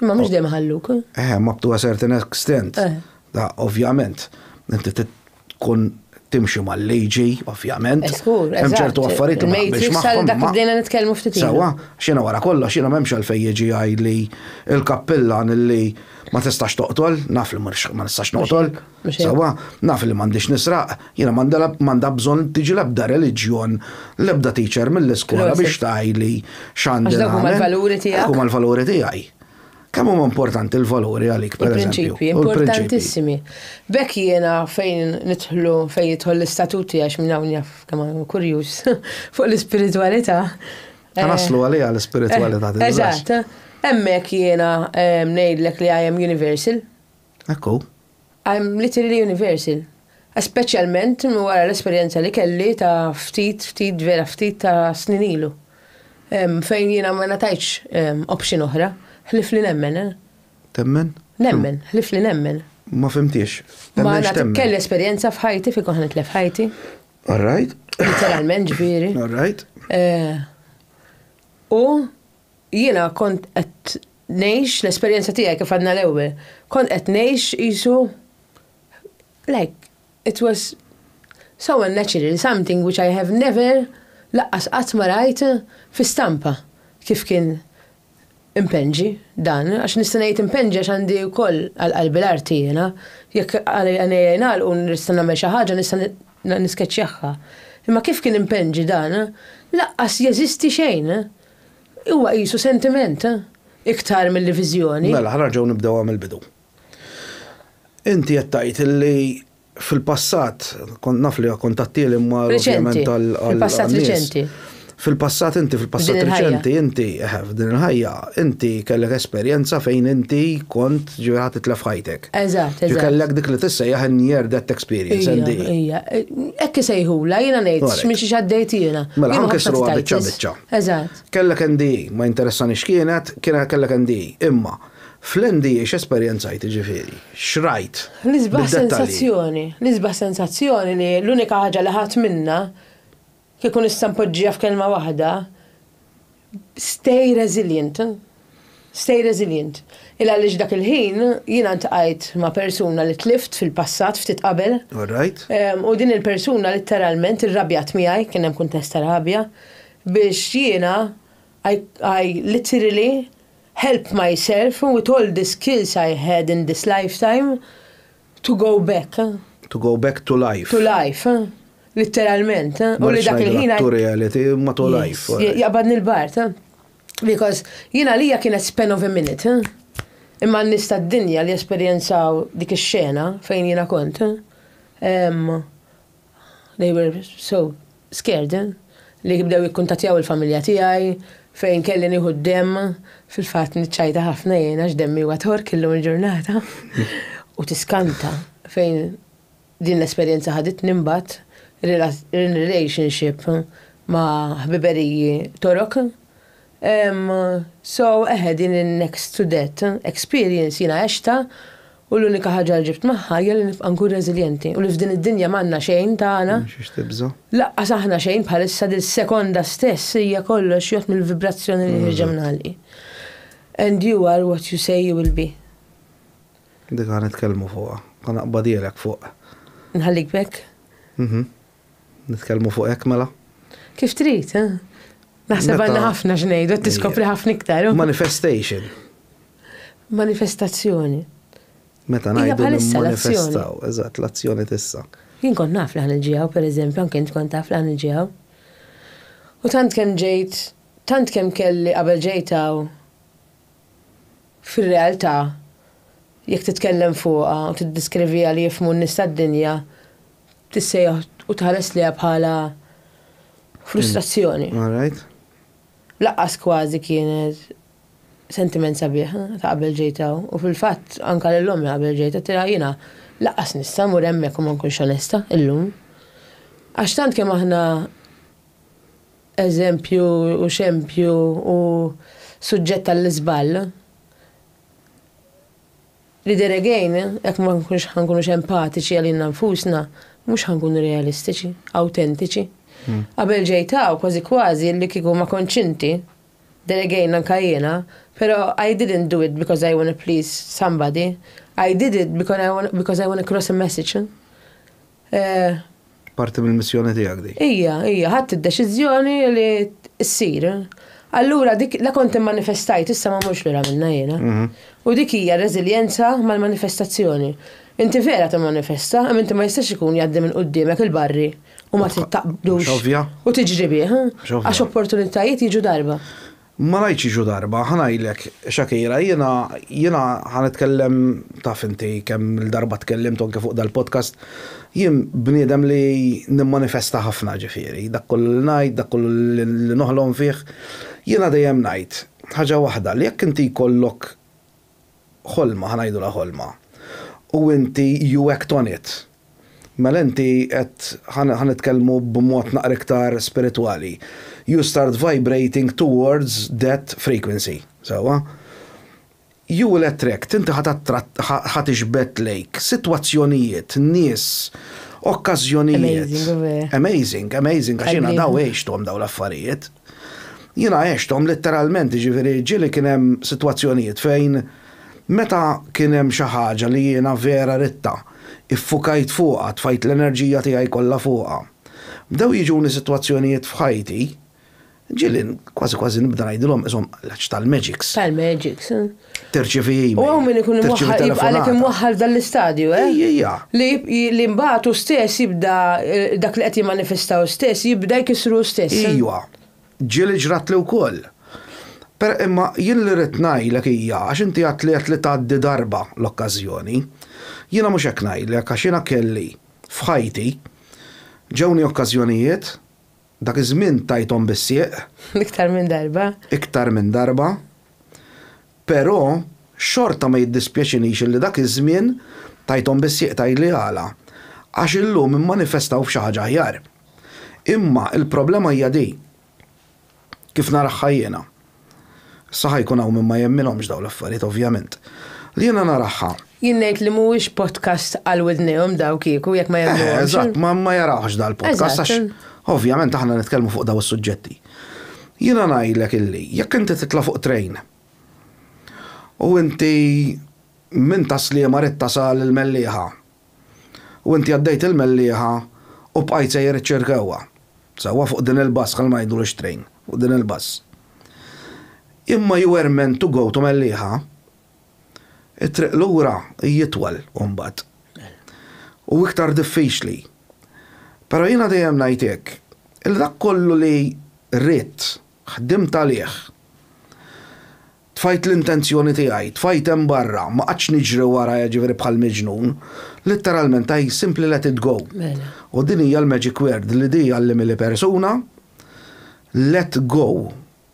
Imma mhux dejjem ħalluk. Eh, eh ma to a certain extent. Eh. Da, ovvjament, inti tkun timxi mal-liġi, ovvjament. Eskur, eh, Hemm ċertu affarijiet ma naqbilx magħhom. Dak bdejna nitkellmu ftit. Sawa, xina wara kollox, xina m'hemmx għalfej jiġi għajli il-kappillan li ma tistax toqtol, naf li ma nistax noqtol. Sewwa, naf li m'għandix nisraq, jiena m'għandha bżonn tiġi l-ebda reliġjon, l-ebda teacher mill-iskola biex tgħidli x'għandi nagħmel. Għax dak huma l-valuri tiegħek. Dak huma l-valuri tiegħi. Kemm huma importanti l-valuri għalik, per eżempju? Il-prinċipji, importantissimi. B'hekk jiena fejn nidħlu, fejn jidħol l-istatuti għax minn hawn jaf kemm kurjuż fuq l-ispiritwalità. Ta' naslu eh, għalija l-ispiritwalità. Eh, eżatt. Hemmhekk jiena eh, ngħidlek li I am universal. Hekk hu. I'm literally universal. Speċjalment wara l-esperjenza li kelli ta' ftit, ftit, vera ftit ta' snin ilu. Fejn jiena ma ngħatajtx option oħra, ħlief li nemmen. Temmen? Nemmen, ħlief li nemmen. Ma fhimtiex. Ma ngħatajtx kelli esperjenza f'ħajti fejn kont nitlef ħajti. All right. Literalment ġifieri. All right. U Jiena kont qed ngħix l-esperjenza tiegħi kif għadna l-ewwel. Kont qed ngħix qisu like it was so unnatural, something which I have never laqqas qatt ma rajt fi stampa kif kien impenġi dan, għax nista' ngħid impenġi għax għandi wkoll għal qalbi l-arti jiena, jekk għajnejja jingħalqu u nista' nagħmel xi ħaġa nista' niskeċċjaha. Imma kif kien impenġi dan, laqqas jeżisti xejn. Huwa qisu sentiment, iktar milli viżjoni. Mela, ħa nerġgħu nibdewha mill-bidu. Inti qed tgħid li fil-passat, kont naf li kont għattieli ma ovvjament tal- Fil-passat riċenti. Fil-passat inti, fil-passat riċenti, inti, eħe, f'din il-ħajja, inti kellek esperjenza fejn inti kont ġifieri ħa titlef ħajtek. Eżatt, eżatt. Kellek dik li tissejjaħ in-near death experience, NDE. Ejja, hekk isejħulha, jiena ngħid minn xiex għaddejt jiena. Mela, ħa nkissruha biċċa biċċa. Eżatt. Kellek NDE, ma jinteressani x'kienet, kien kellek NDE. Imma, fl-NDE x'esperjenzajt jiġifieri? X'rajt? L-isbaħ sensazzjoni, l-isbaħ sensazzjoni li l-unika ħaġa li ħadt minnha, kieku nista' npoġġiha f'kelma waħda, stay resilient. Stay resilient. Il għaliex dak il-ħin jiena ltqajt ma' persuna li tlift fil-passat ftit qabel. All right. U din il-persuna litteralment irrabjat miegħi, kien hemm kuntest ta' rabja, biex jiena I I literally helped myself with all the skills I had in this lifetime to go back. To go back to life. To life. Litteralment. U li dak il-ħin. Ma rridx ngħidilha to reality, imma to life. Jaqbadni l-bard. Because jien għalija kienet span of a minute, eh? Imma n-nies tad-dinja li esperjenzaw dik ix-xena fejn jiena kont, eh? They were so scared, eh? Li bdew jikkuntatjaw il-familja tiegħi fejn kelli nieħu d-demm, fil-fatt niċċajta ħafna jiena x'demmi huwa tork illum il-ġurnata. U tiskanta fejn Din l-esperjenza ħaditni mbagħad relationship ma' ħbiberiji Torok. Um, so, eħe, din il-next to death experience jiena għexta u l-unika ħaġa li ġibt magħha hija li nibqa' nkun reżiljenti u li f'din id-dinja m'għandna xejn tagħna. Xiex tibża'. Laqqas aħna xejn bħalissa dil sekonda stess hija kollox jgħod mill-vibrazzjoni li ħirġa minn ħalqi. And you are what you say you will be. Dik ħa nitkellmu fuqha. Ħa naqbadhielek fuq. Nħallik b'hekk? Mhm. Nitkellmu fuq hekk mela? Kif trid, eh? Naħseb għandna ħafna x'ngħidu, qed tiskopri ħafna iktar. Manifestation. Manifestazzjoni. Meta ngħidu manifestaw, eżatt, l-azzjoni tissa. Jien kont naf li ħan il-ġiegħu, pereżempju, anke int kont taf li ħan il-ġiegħu. U tant kemm ġejt, tant kemm kelli qabel ġejtaw, Fir-realtà, jekk titkellem fuqha u tiddiskriviha li jifhmu n-nies tad-dinja, tissejjaħ u tħares lejha bħala frustrazzjoni. Lanqas kważi kienet sentiment sabiħ ta' qabel ġejt hawn. U fil-fatt, anke lil ommi qabel ġejt għedtilha jiena lanqas nista' mmur hemmhekk u ma nkunx onesta illum. Għax tant kemm aħna eżempju u xempju u suġġett għall-iżball, li there again, jekk ma nkunux ħa nkunux empatiċi għalina nfusna, mhux ħa nkunu realistiċi, awtentiċi. Hmm. Qabel ġejtaw kważi kważi li kieku ma konċinti, there again anka jiena, pero I didn't do it because I want to please somebody, I did it because I want, because I want to cross a message. Eh. Parti mill-missjoni tiegħek dik. Hija, hija, ħadd id-deċiżjoni li ssir. Allura dik la kont immanifestajt issa ma mhux lura minna jiena. Mhm. U dik hija reżiljenza mal-manifestazzjoni. Inti vera timmanifesta, imma inti ma jistax ikun jgħaddi minn quddiemek il-barri u ma tittaqbdux. U tiġri bih, għax opportunitajiet jiġu darba. Ma ngħidx jiġu darba, ħa ngħidlek, Shakira, jiena, jiena ħa nitkellem, taf inti kemm-il darba tkellimt anke fuq dal-podcast, jien bniedem li nimmanifesta ħafna, ġifieri, dak kollu li ngħid, dak kollu li noħlom fih, jiena dejjem ngħid ħaġa waħda, li jekk inti jkollok, ħolma, ħa ngħidulha ħolma, u inti you act on it, mela inti qed, ħa nitkellmu b'mod naqra iktar spiritwali, you start vibrating towards that frequency, sewwa? You will attract, inti ħa tattratt, ħa tiġbed lejk sitwazzjonijiet, nies, okkażjonijiet. Amazing, amazing, amazing, għax jiena daw għixthom dawn l-affarijiet. Jiena għexthom litteralment, jiġifieri ġieli kien hemm sitwazzjonijiet fejn meta kien hemm xi ħaġa li jiena vera ridtha, iffukajt fuqha, tfajt l-enerġija tiegħi kollha fuqha. Bdew jiġuni sitwazzjonijiet f'ħajti, ġieli kważi kważi nibda ngħidilhom qishom l-għaġġ tal-magics. Tal-magics. Terċivi email. U għaw minn ikun imwaħħal, għalek imwaħħal dal-istadju, eh? Ija. Li mbagħad u stess jibda eh, dak li qed jimmanifestaw stess jibda jkisru stess. Eh? Ija. Ġili ġrat li wkoll. Per imma jien li rrid ngħidlek hija għax inti għat li għat li tgħaddi darba l-okkażjoni. Jiena mhux hekk ngħidlek għax jiena kelli f'ħajti ġewni okkażjonijiet Dak iż-żmien tajthom bis-sieq. Iktar minn darba. Iktar minn darba. Però xorta ma jiddispjaċinix illi dak iż-żmien tajthom bis-sieq tgħidli għala. Għax illum immanifestaw f'xi ħaġa aħjar. Imma l-problema hija di. Kif naraha jiena. Sa ħa jkun hawn min ma jemminhomx dawn l-affarijiet ovvjament. Li jiena naraha. Jien ngħid li mhuwiex podcast għal widnejhom daw kieku jekk ma jemnuhomx. Eh, eżatt, ma jarawhx dal podcast għax ovvjament aħna nitkellmu fuq daw is-suġġetti. Jiena ngħidlek illi jekk inti titla' fuq train u inti minn tas-Sliema rid tasal il-Mellieħa. U inti għaddejt il-mellieħa u bqajt sejjer iċċirkewha. Sewwa fuq din il-bus, ħalli ma ngħidulx train, fuq din il-bus. Imma you were meant to go to Mellieħa. It-triq lura hi itwal imbagħad. U iktar diffiċli. Però jiena dejjem ngħid hekk, li dak kollu li ridt, ħdimt għalih, Tfajt l-intenzjoni tiegħi, tfajt hemm barra, ma qgħadtx niġri wara jiġifieri bħal miġnun. Litteralment I simply let it go. U din hija l-magic word li di għallimili persuna, let go.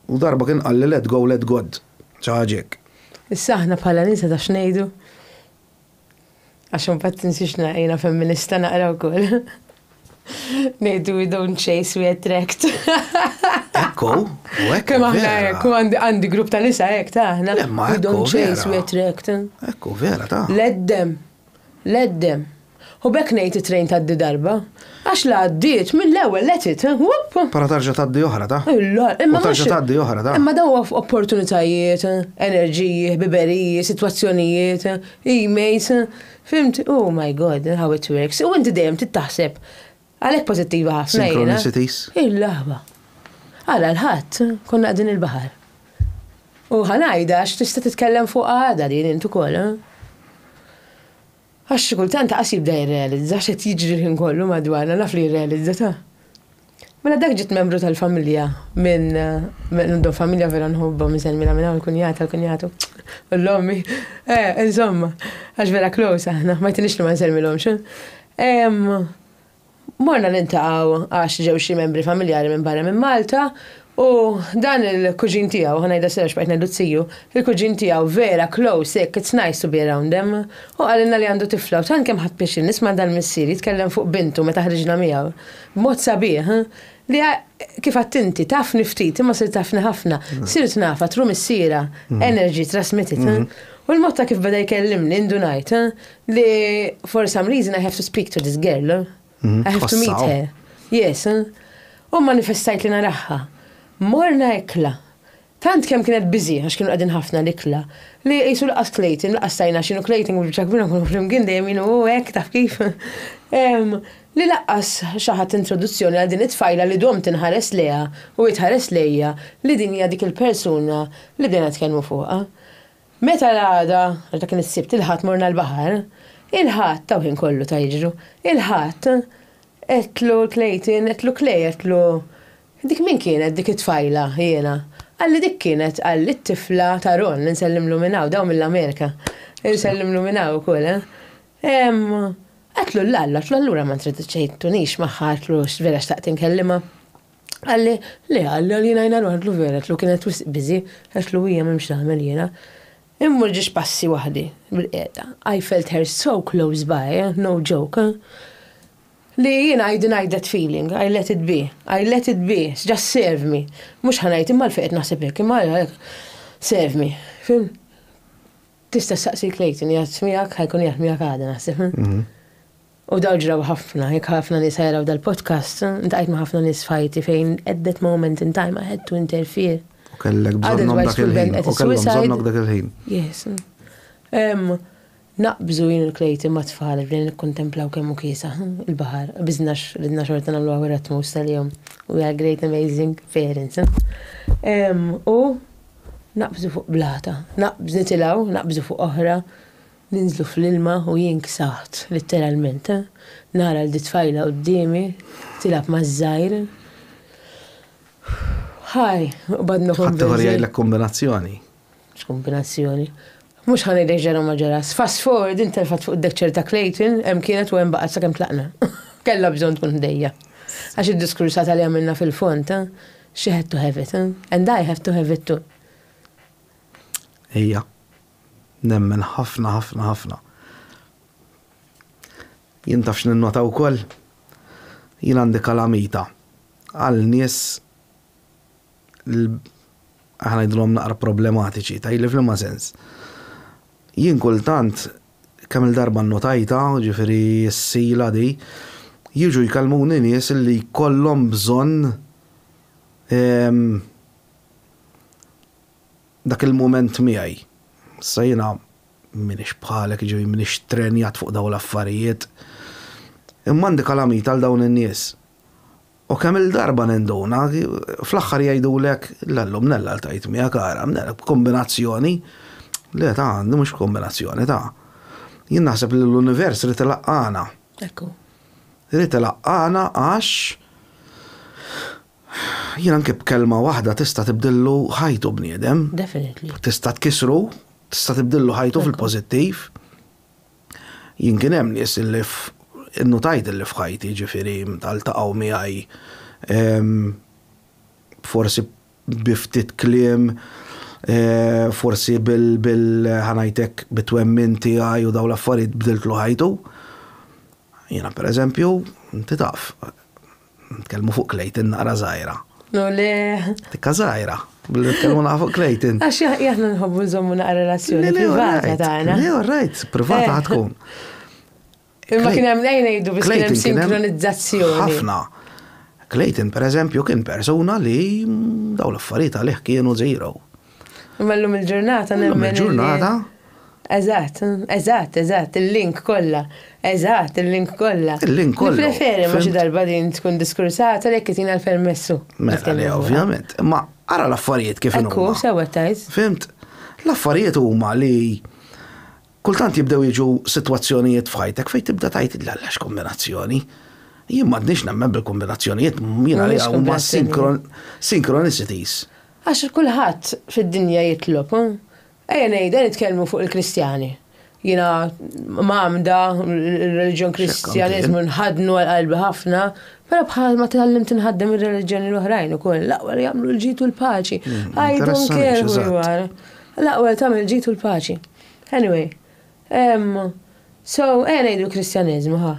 U darba kien qalli let go let God. Xi ħaġa hekk. Issa aħna bħala nisa taf x'ngħidu? Għax imbagħad tinsiex li jiena femminista naqra wkoll. Ngħidu we don't chase, we attract. Ekku, u ekku. Kemm aħna ekku, għandi grupp ta' nisa hekk ta' aħna. We don't chase, we attract. Ekku, vera ta'. Leddem, leddem. U bekk ngħid it-trejn tgħaddi darba. Għax la għaddiet mill-ewwel let it. Wupp! Però tarġa' tgħaddi oħra ta'. Illa, imma U mhux. tarġa' tgħaddi oħra ta'. Imma dawn huwa opportunitajiet, enerġiji, ħbiberiji, sitwazzjonijiet, emails, fimt? Oh my God, how it works. U inti dejjem trid taħseb. Għalhekk pożittiva ħafna jiena. Synchronicities. Il-laħba. Għala l-Ħadd konna qegħdin il-baħar. U ħa ngħidha għax tista' titkellem fuqha għada din int ukoll. Għax xi kultant ta' qass jibda jirrealizza x'qed jiġri l-ħin kollu madwarna, naf li jirrealizza ta'. Mela dak ġiet membru tal-familja minn għandhom familja vera nħobbhom insellmilha minn hawn il-kunjata, l-kunjatu, u l-ommi, insomma, għax vera close aħna, ma jtinix li ma nsellmilhomx. Morna niltaqgħu għax ġew xi membri familjari minn barra minn Malta u dan il-kuġin tiegħu, ħa ngħidha Serge bqajt ngħidlu t-tiju, il-kuġin tiegħu vera close hekk it's nice to be around them. Hu qalilna li għandu tifla u tant kemm ħadt pixxin nisma' dal-missier jitkellem fuq bintu meta ħriġna miegħu b'mod sabiħ li kif għedt inti tafni ftit imma sirt tafni ħafna, sirt nafha through missierha, energy transmitted. U l-mod ta' kif beda jkellimni indunajt Li for some reason I have to speak to this girl. Mhm. I have to meet her. Yes. Eh? U manifestajt li naraħħa. Morna ekla. Tant kemm kienet biżi għax kienu qegħdin ħafna l-ikla. Li qisu laqas klejtin, laqas tajna x'inhu klejtin u ċakbina kun flimkien dejjem jienu oh, hekk taf kif. Li laqas xi ħadd introduzzjoni għal din it-tfajla li dom tinħares leha u jitħares lejja li din hija dik il-persuna li dejna tkellmu fuqha. Meta l-għada, għax dak kien is-Sibt, il-Ħadd morna l-baħar, il-Ħadd, hawn ħin kollu ta' jiġru, il-Ħadd għedtlu l-Clayton, għedtlu Clay, għedtlu, dik min kienet dik it-tfajla, jiena, qalli dik kienet, qalli t-tifla ta' Ron, insellimlu minn hawn, dawn mill-Amerika, insellimlu minn hawn ukoll, ehm, għedtlu l-Alla, għedtlu allura ma introduċejtunix magħha, għedtlu vera xtaqt inkellimha. Qalli, Le, qalli għalina jiena ngħidlu vera, għedtlu kienet wisq biżi, għedtlu hija m'hemmx x'nagħmel jiena. Immur ġiex passi waħdi, bil-qiegħda. I felt her so close by, no joke. Li jiena I denied that feeling, I let it be, I let it be, just serve me. Mhux ħa ngħid imma l-fejn qed naħseb hekk, imma serve me. Fim? Tista' ssaqsi Clayton, jgħid miegħek, ħajkun jgħid miegħek għada naħseb. Mhm. U dawn ġraw ħafna, jekk ħafna nies ħajaraw dal-podcast, ltqajt ma' ħafna nies f'ħajti fejn at that moment in time I had to interfere. U kellek bżonnhom dak il-ħin, u kellhom bżonnok dak il-ħin. Yes. Naqbżu jien u l-klejti ma' tfal bdejna nikkontemplaw kemm hu kiesaħ il-baħar, qbiżnax ridna xorta nagħmlu hawn ir-Ratmus tal-jum. We are great amazing parents. U naqbżu fuq blata, naqbżu nitilgħu, naqbżu fuq oħra, Ninżlu fl-ilma u jien ksaħt, litteralment. Nara lil dit-tfajla quddiemi tilgħab maż-żgħir. Ħaj, qbadna konvinti. Ħaddieħor jgħidlek kombinazzjoni. X'kombinazzjoni? Mhux ħa ngħidlek ġara u ma ġarax. Fast forward din telfet fuq id-deckchair ta' Clayton, hemm kienet u hemm baqgħet sakemm tlaqna. Kellha bżonn tkun ħdejja. Għax id-diskursata li għamilna fil-fond, she had to have it, and I have to have it too. Hija. Nemmen ħafna ħafna ħafna. Jien taf x'ninnota wkoll? Jien għandi kalamita għal nies aħna ngħidilhom naqra problematiċi, tajli f'liema sens. Jien kultant kemm il-darba nnotajtha, ġifieri s-sila di, jiġu jkellmuni nies li jkollhom bżonn ehm, Dak il-mument miegħi. Issa jiena m'iniex bħalek, jiġifieri m'iniex trenjat fuq dawn l-affarijiet. Imma għandi kalamita għal dawn in-nies. U kemm-il darba ninduna, fl-aħħar jgħidulek, le llum Nella ltqajt miegħek, ara, Nella, b'kombinazzjoni. Le, ta, di mhux kombinazzjoni, ta. Jien naħseb li l-univers ried ilaqqagħna. Ekku. Ried ilaqqagħna għax Jien anke b'kelma waħda tista' tibdillu ħajtu bniedem. Definitely. Tista' tkissru, tista' tibdillu ħajtu fil-pożittiv. Jien kien hemm nies illi innutajt illi f'ħajti ġifieri ltaqgħu miegħi forsi bi ftit kliem, forsi bil ħa ngħid hekk bit-twemmin tiegħi u dawn l-affarijiet bdiltlu ħajtu. Jiena pereżempju, inti taf, Nitkellmu fuq Clayton naqra żgħira. No le. Tikka żgħira. Billi nitkellmu naqra fuq Clayton. Għax aħna nħobbu nżommu naqra relazzjoni privata tagħna. Le, right, privata eh. tkun. Imma kien hemm lejn ngħidu biex kien hemm sinkronizzazzjoni. Ħafna. Clayton, per eżempju, kien persuna li daw l-affarijiet għalih kienu zero. Imma llum il-ġurnata nemmen. Llum il-ġurnata. Eżatt, eżatt, eżatt, il-link kollha. Eżatt, il-link kollha. Il-link kollha. Preferi ma xi darba din tkun diskursata li jekk tina l-permessu. Mela, le, ovvjament. Imma ara l-affarijiet kif inhu. Ekku, sewa tajt. Fimt? L-affarijiet huma li kultant jibdew jiġu sitwazzjonijiet f'ħajtek fejn tibda tajt il-għallax kombinazzjoni. Jien m'għadniex nemmen bil-kombinazzjonijiet, jiena li huma synchronicities. Għax kulħadd fid-dinja jitlob, hu? Ejja ngħid, ejja nitkellmu fuq il-Kristjani. Jiena mgħammda l-reliġjon Kristjaniżmu nħaddnu għal qalbi ħafna, però bħal ma tgħallimt inħaddem ir-reliġjoni l-oħrajn ukoll, l-aqwa li jagħmlu l-ġid u l-paċi. Mm, I don't care who you are. L-aqwa li tagħmel ġid u l-paċi. Anyway, so ejja ngħidu l-Kristjaniżmu, ha.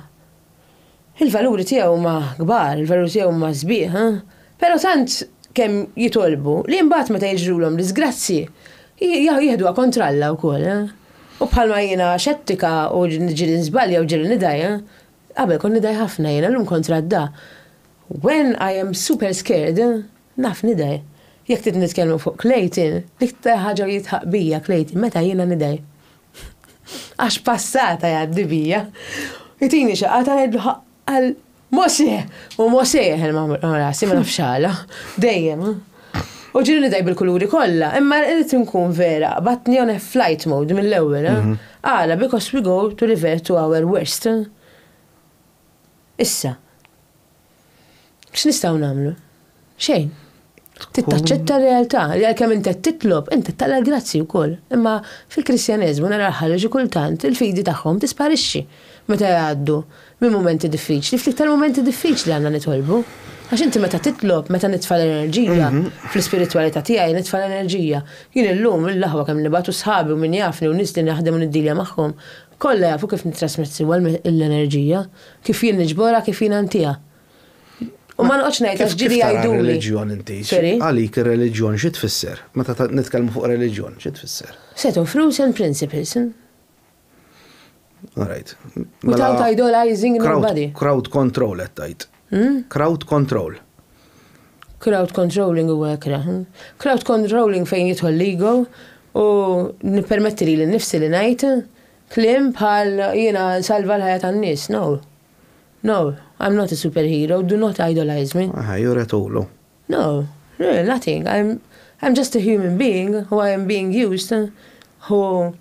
Il-valuri tiegħu huma kbar, il-valuri tiegħu huma sbieħ, ha? Però tant kemm jitolbu li mbagħad meta jiġrulhom diżgrazzji jieħduha kontra Alla wkoll, ha? U bħalma jiena xettika u ġieli nżbalja u ġieli nidgħi, ha? Qabel kont nidgħi ħafna jiena, llum kont radda. When I am super scared, ha? Naf nidgħi. Jekk trid nitkellmu fuq Clayton, l-iktar ħaġa li jidħaq bija Clayton meta jiena nidgħi. Għax passata jgħaddi bija. Itini xi qata ngħidlu għal Mosè! U Mosè jeħel ma' rasi ma nafx għala. Dejjem. U ġieli daj bil-kuluri kollha, imma rrid inkun vera, batni on flight mode mill-ewwel. Eh? Mhm. Għala, because we go to revert to our worst. Eh? Issa. X'nistgħu nagħmlu? Xejn. Tittaċċetta r-realtà, li għalkemm inti qed titlob, inti taqla l-grazzji wkoll. Imma fil-Kristjaneżmu nara l-ħaġa xi kultant il-fidi tagħhom tisparixxi meta jgħaddu minn mumenti diffiċli, ftit tal-mumenti diffiċli għandna nitolbu. Għax inti meta titlob, meta nitfa' l-enerġija, fl-ispiritwalità tiegħi nitfa' l-enerġija. Jien illum, l-aħwa kemm nibgħat u sħabi u min jafni u nies li naħdem u niddilja magħhom, Kollha jafu kif nittrasmett siwa l-enerġija, kif jien niġborha, kif jien intiha. U ma noqgħodx ngħid għax ġieli jgħiduli. Għalik ir-reliġjon xi tfisser? Meta nitkellmu fuq reliġjon, xi tfisser? Set of rules and principles. All right. Without idolizing nobody. Crowd control qed tgħid. Crowd control. Crowd controlling huwa hekk ra. Crowd controlling fejn jidħol l-ego u nippermetti lili nnifsi li ngħid kliem bħal jiena nsalva l-ħajja tan-nies. No. No, I'm not a superhero, do not idolize me. Aha, juri tulu. No, really nothing, I'm I'm just a human being who I am being used who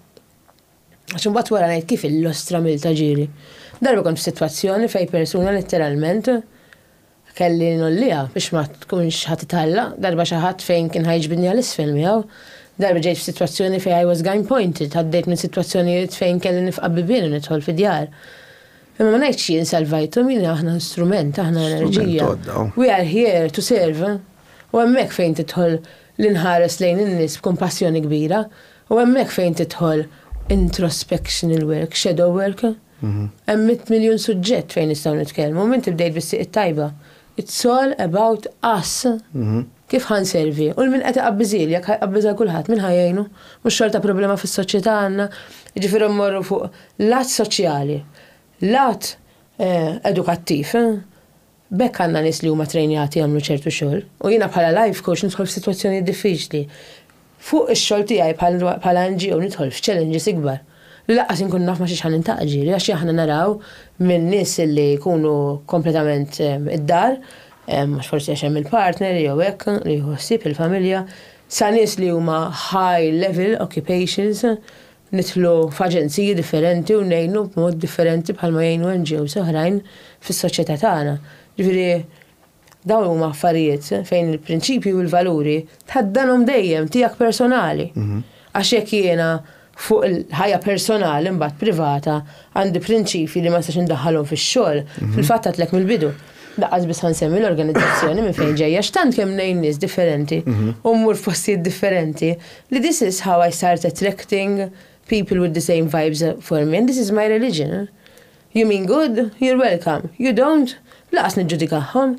Għax imbagħad wara ngħid kif illostra mill ta' ġieli. Darba kont f'sitwazzjoni fejn persuna litteralment kelli ngħolliha biex ma tkunx ħa titħalla, darba xi ħadd fejn kien ħa jiġbidni għal isfel miegħu, darba ġejt f'sitwazzjoni fejn I was gyn pointed, għaddejt minn sitwazzjonijiet fejn kelli nifqa' bibien u nidħol fi djar. Imma ma ngħidx jien salvajthom, jien aħna strument, aħna enerġija. We are here to serve. U hemmhekk fejn tidħol li nħares lejn in-nies b'kumpassjoni kbira, U hemmhekk fejn tidħol introspectional work, shadow work. Hemm mitt miljun suġġett fejn nistgħu nitkellmu, minn tibdejt bis-sieq it-tajba. It's all about us. Kif ħa nservi? U l-min qed iqabbiżieli, jekk ħa jqabbiż għal kulħadd, min ħa jgħinu? Mhux xorta problema fis-soċjetà għandna? Jiġifieri mmorru fuq lat soċjali, lat edukattiv, B'hekk għandna nies li huma ttrejnjati jagħmlu ċertu xogħol u jiena bħala life coach nidħol f'sitwazzjonijiet diffiċli. Fuq ix-xogħol tiegħi bħala NGO nidħol f'challenges ikbar li lanqas inkun naf ma' xiex ħa niltaqa' ġieli għax aħna naraw minn nies li jkunu kompletament id-dar, mhux forsi għax hemm il-partner jew hekk li jieħu ħsieb il-familja, sa nies li huma high level occupations, nidħlu f'aġenziji differenti u ngħinu b'mod differenti bħalma jgħinu NGOs oħrajn fis-soċjetà tagħna. Ġifieri dawn huma affarijiet fejn il-prinċipji u l-valuri tħaddanhom dejjem tiegħek personali. Għax jekk jiena fuq il-ħajja personali mbagħad privata Għandi prinċipji li ma nistax indaħħalhom fix-xogħol, mhm. fil-fatt għadlek mill-bidu. Daqqas biss ħansemmi l-organizzazzjoni minn fejn ġejja x'tant kemm ngħin nies differenti mhm. u mmur f'postijiet differenti li this is how I start attracting people with the same vibes for me and this is my religion. You mean good, you're welcome. You don't, laqas niġġudikahom.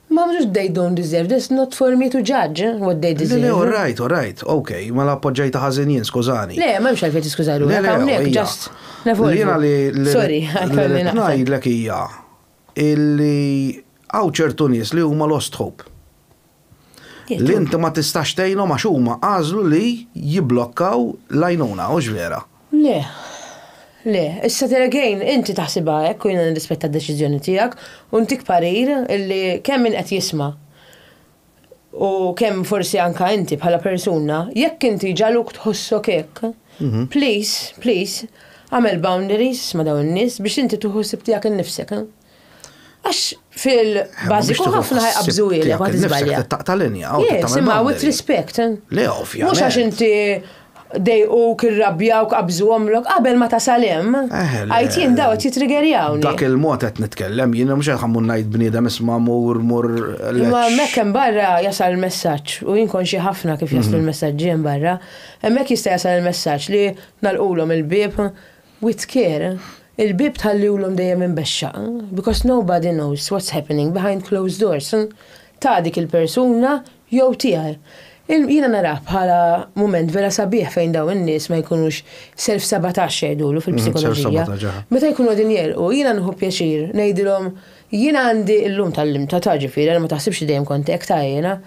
Mom just they don't deserve this, not for me to judge eh, what they deserve. Le le alright alright, ok, mela appoġġajtha ħażin jien skużani. Le, m'hemmx għalfejn tiskuża ruħek hawnhekk just nevolvu. Jiena li Sorry, għalkolli naqta'. Ngħidlek hija illi hawn ċertu nies li huma lost hope. Li inti ma tistax tgħinhom għax huma għażlu li jibblokkaw l-għajnuna, hux vera? Le. Le. Issa there again, inti taħsibha hekk u jiena nirrispetta d-deċiżjoni tiegħek u ntik parir li kemm min qed jisma' u kemm forsi anke inti bħala persuna, jekk inti ġagħluk tħossok hekk, please, please, agħmel boundaries ma' dawn in-nies biex inti tieħu ħsieb tiegħek innifsek. Għax fil-bażiku ħafna ħajqabżuhielek ma tiżbalja. Taqta' linja. Simma with respect. Eh? Le ovvja. Mhux għax inti dejquk, irrabjawk, qabżu omlok, qabel ma tasal hemm. Eh, għajt jien daw qed jitrigerjaw. Dak il-mod qed nitkellem, jien mhux qed ħammun ngħid bniedem isma' mur mur. Ma hemmhekk hemm barra jasal il-messaġġ u jien konxi ħafna kif jaslu mhm. l-messaġġi hemm barra. Hemmhekk jista' jasal il-messaġġ li nalqulhom il-bieb With care, il-bieb tħalliwlhom dejjem imbexxaq, because nobody knows what's happening behind closed doors, ta' dik il-persuna jew tiegħi. Jiena narah bħala mument vera sabiħ fejn dawn in-nies ma jkunux self-sabotage jgħidulu fil-psikoloġija. Meta jkunu qegħdin jegħlqu, jiena nieħu pjaċir ngħidilhom, jiena għandi illum tgħallimtha ta' ġifieri għal ma taħsibx li dejjem kont hekk ta' jiena.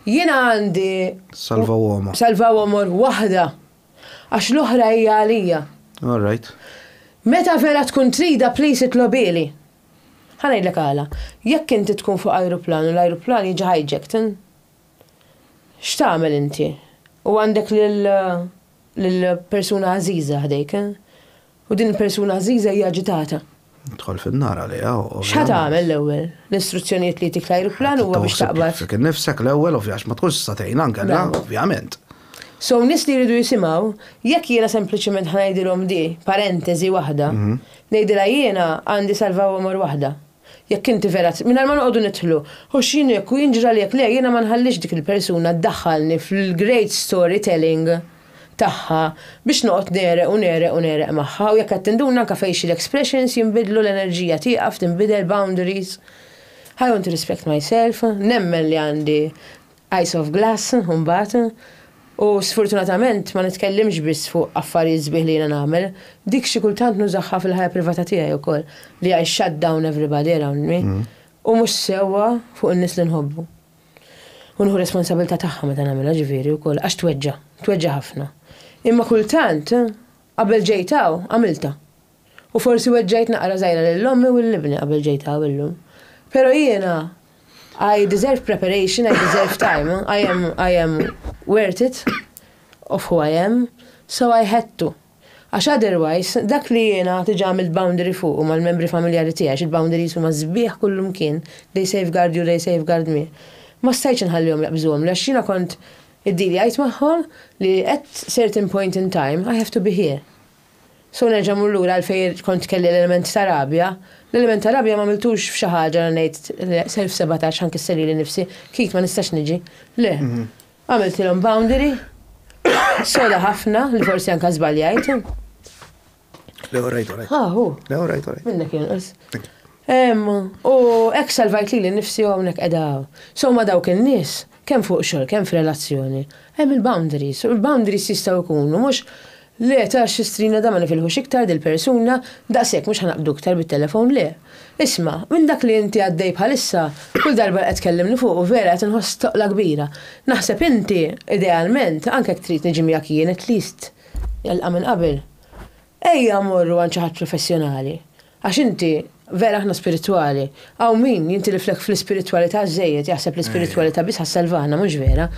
Jiena għandi. Salva uomo. Salva uomo waħda. Għax l-oħra hija għalija. All right. Meta vera tkun trida please itlobieli. Ħa ngħidlek għala. Jekk inti tkun fuq ajruplan u l-ajruplan jiġi hijacked, x'tagħmel inti? U għandek lill-persuna għażiża ħdejk. U din il-persuna għażiża hija aġitata. Tidħol fin-nar għaliha, ovvjament. X'ħa tagħmel l-ewwel? L-istruzzjonijiet li jtik l-ajruplan huwa biex taqbad. Fik innifsek l-ewwel, ovvja, għax ma tkunx tista' tgħinha nkella, ovvjament. So nies li jridu jisimgħu, jekk jiena sempliċement ħa ngħidilhom di, parenteżi waħda, ngħidilha jiena għandi salva għomor waħda. Jekk inti vera trid, mingħajr ma noqogħdu nidħlu, u x'inhu jekk u jinġra li jekk le, jiena ma nħallix dik il-persuna ddaħħalni fil-great story telling tagħha biex noqgħod negħreq u negħreq u negħreq magħha u jekk qed tinduna anke facial expressions jinbidlu l-enerġija tieqaf tinbidel boundaries I want to respect myself nemmen li għandi Eyes of Glass, imbagħad, u sfortunatament ma nitkellimx biss fuq affarijiet sbieħ li jiena nagħmel, dik xi kultant nużagħha fil-ħajja privata tiegħi wkoll, li I shut down everybody around me, u mhux sewwa fuq in-nies li nħobbu. U nieħu responsabilità tagħha meta nagħmilha, ġifieri, wkoll, għax tweġġa', tweġġa' ħafna. Imma kultant, qabel ġejt hawn, għamiltha. U forsi weġġajt naqra żgħira lil ommi u lil ibni qabel ġejt hawn illum. Però jiena I deserve preparation, I deserve time, I am, I am worth it of who I am, so I had to. Għax otherwise, dak li jiena diġà għamilt boundary fuqu mal-membri familjari tiegħi, għax il-boundaries huma sbieħ kullumkien, they safeguard you, they safeguard me, ma stajtx inħallihom jaqbżuhomli għax jiena kont iddilijajt magħhom li at certain point in time, I have to be here. So nerġa' mmur lura għal fejn kont kelli l-element ta' rabja. L-element ta' rabja m'għamiltux f'xi ħaġa li ngħid, le, self sabotage ħa nkisser lili nnifsi, kif ma nistax niġi. Le. Għamiltilhom boundary soda ħafna li forsi anke żbaljajt. Le, all right, all right. Ah, hu. Le, all right, all right. Minnek jinqas. U hekk salvajt lili nnifsi u hawnhekk qiegħda. So ma dawk in-nies, kemm fuq xogħol, kemm f'relazzjoni, hemm il-boundaries. U l-boundaries jistgħu jkunu mhux Le, tara x'sistrina da ma nifilħux iktar dil-persuna, daqshekk mhux ħa naqbdu iktar bit-telefon le. Isma', minn dak li inti għaddej bħalissa, kull darba li qed tkellimni fuqu vera qed inħoss toqla kbira. Naħseb inti, idealment, anke jekk trid niġi miegħek jien, at least, nilqa' minn qabel. Ejja mmorru għand xi ħadd professjonali. Għax inti, vera aħna spiritwali. Hawn min jintiliflek fl-ispiritwalità żejjed, jaħseb l-ispiritwalità biss ħassalvana, mhux vera.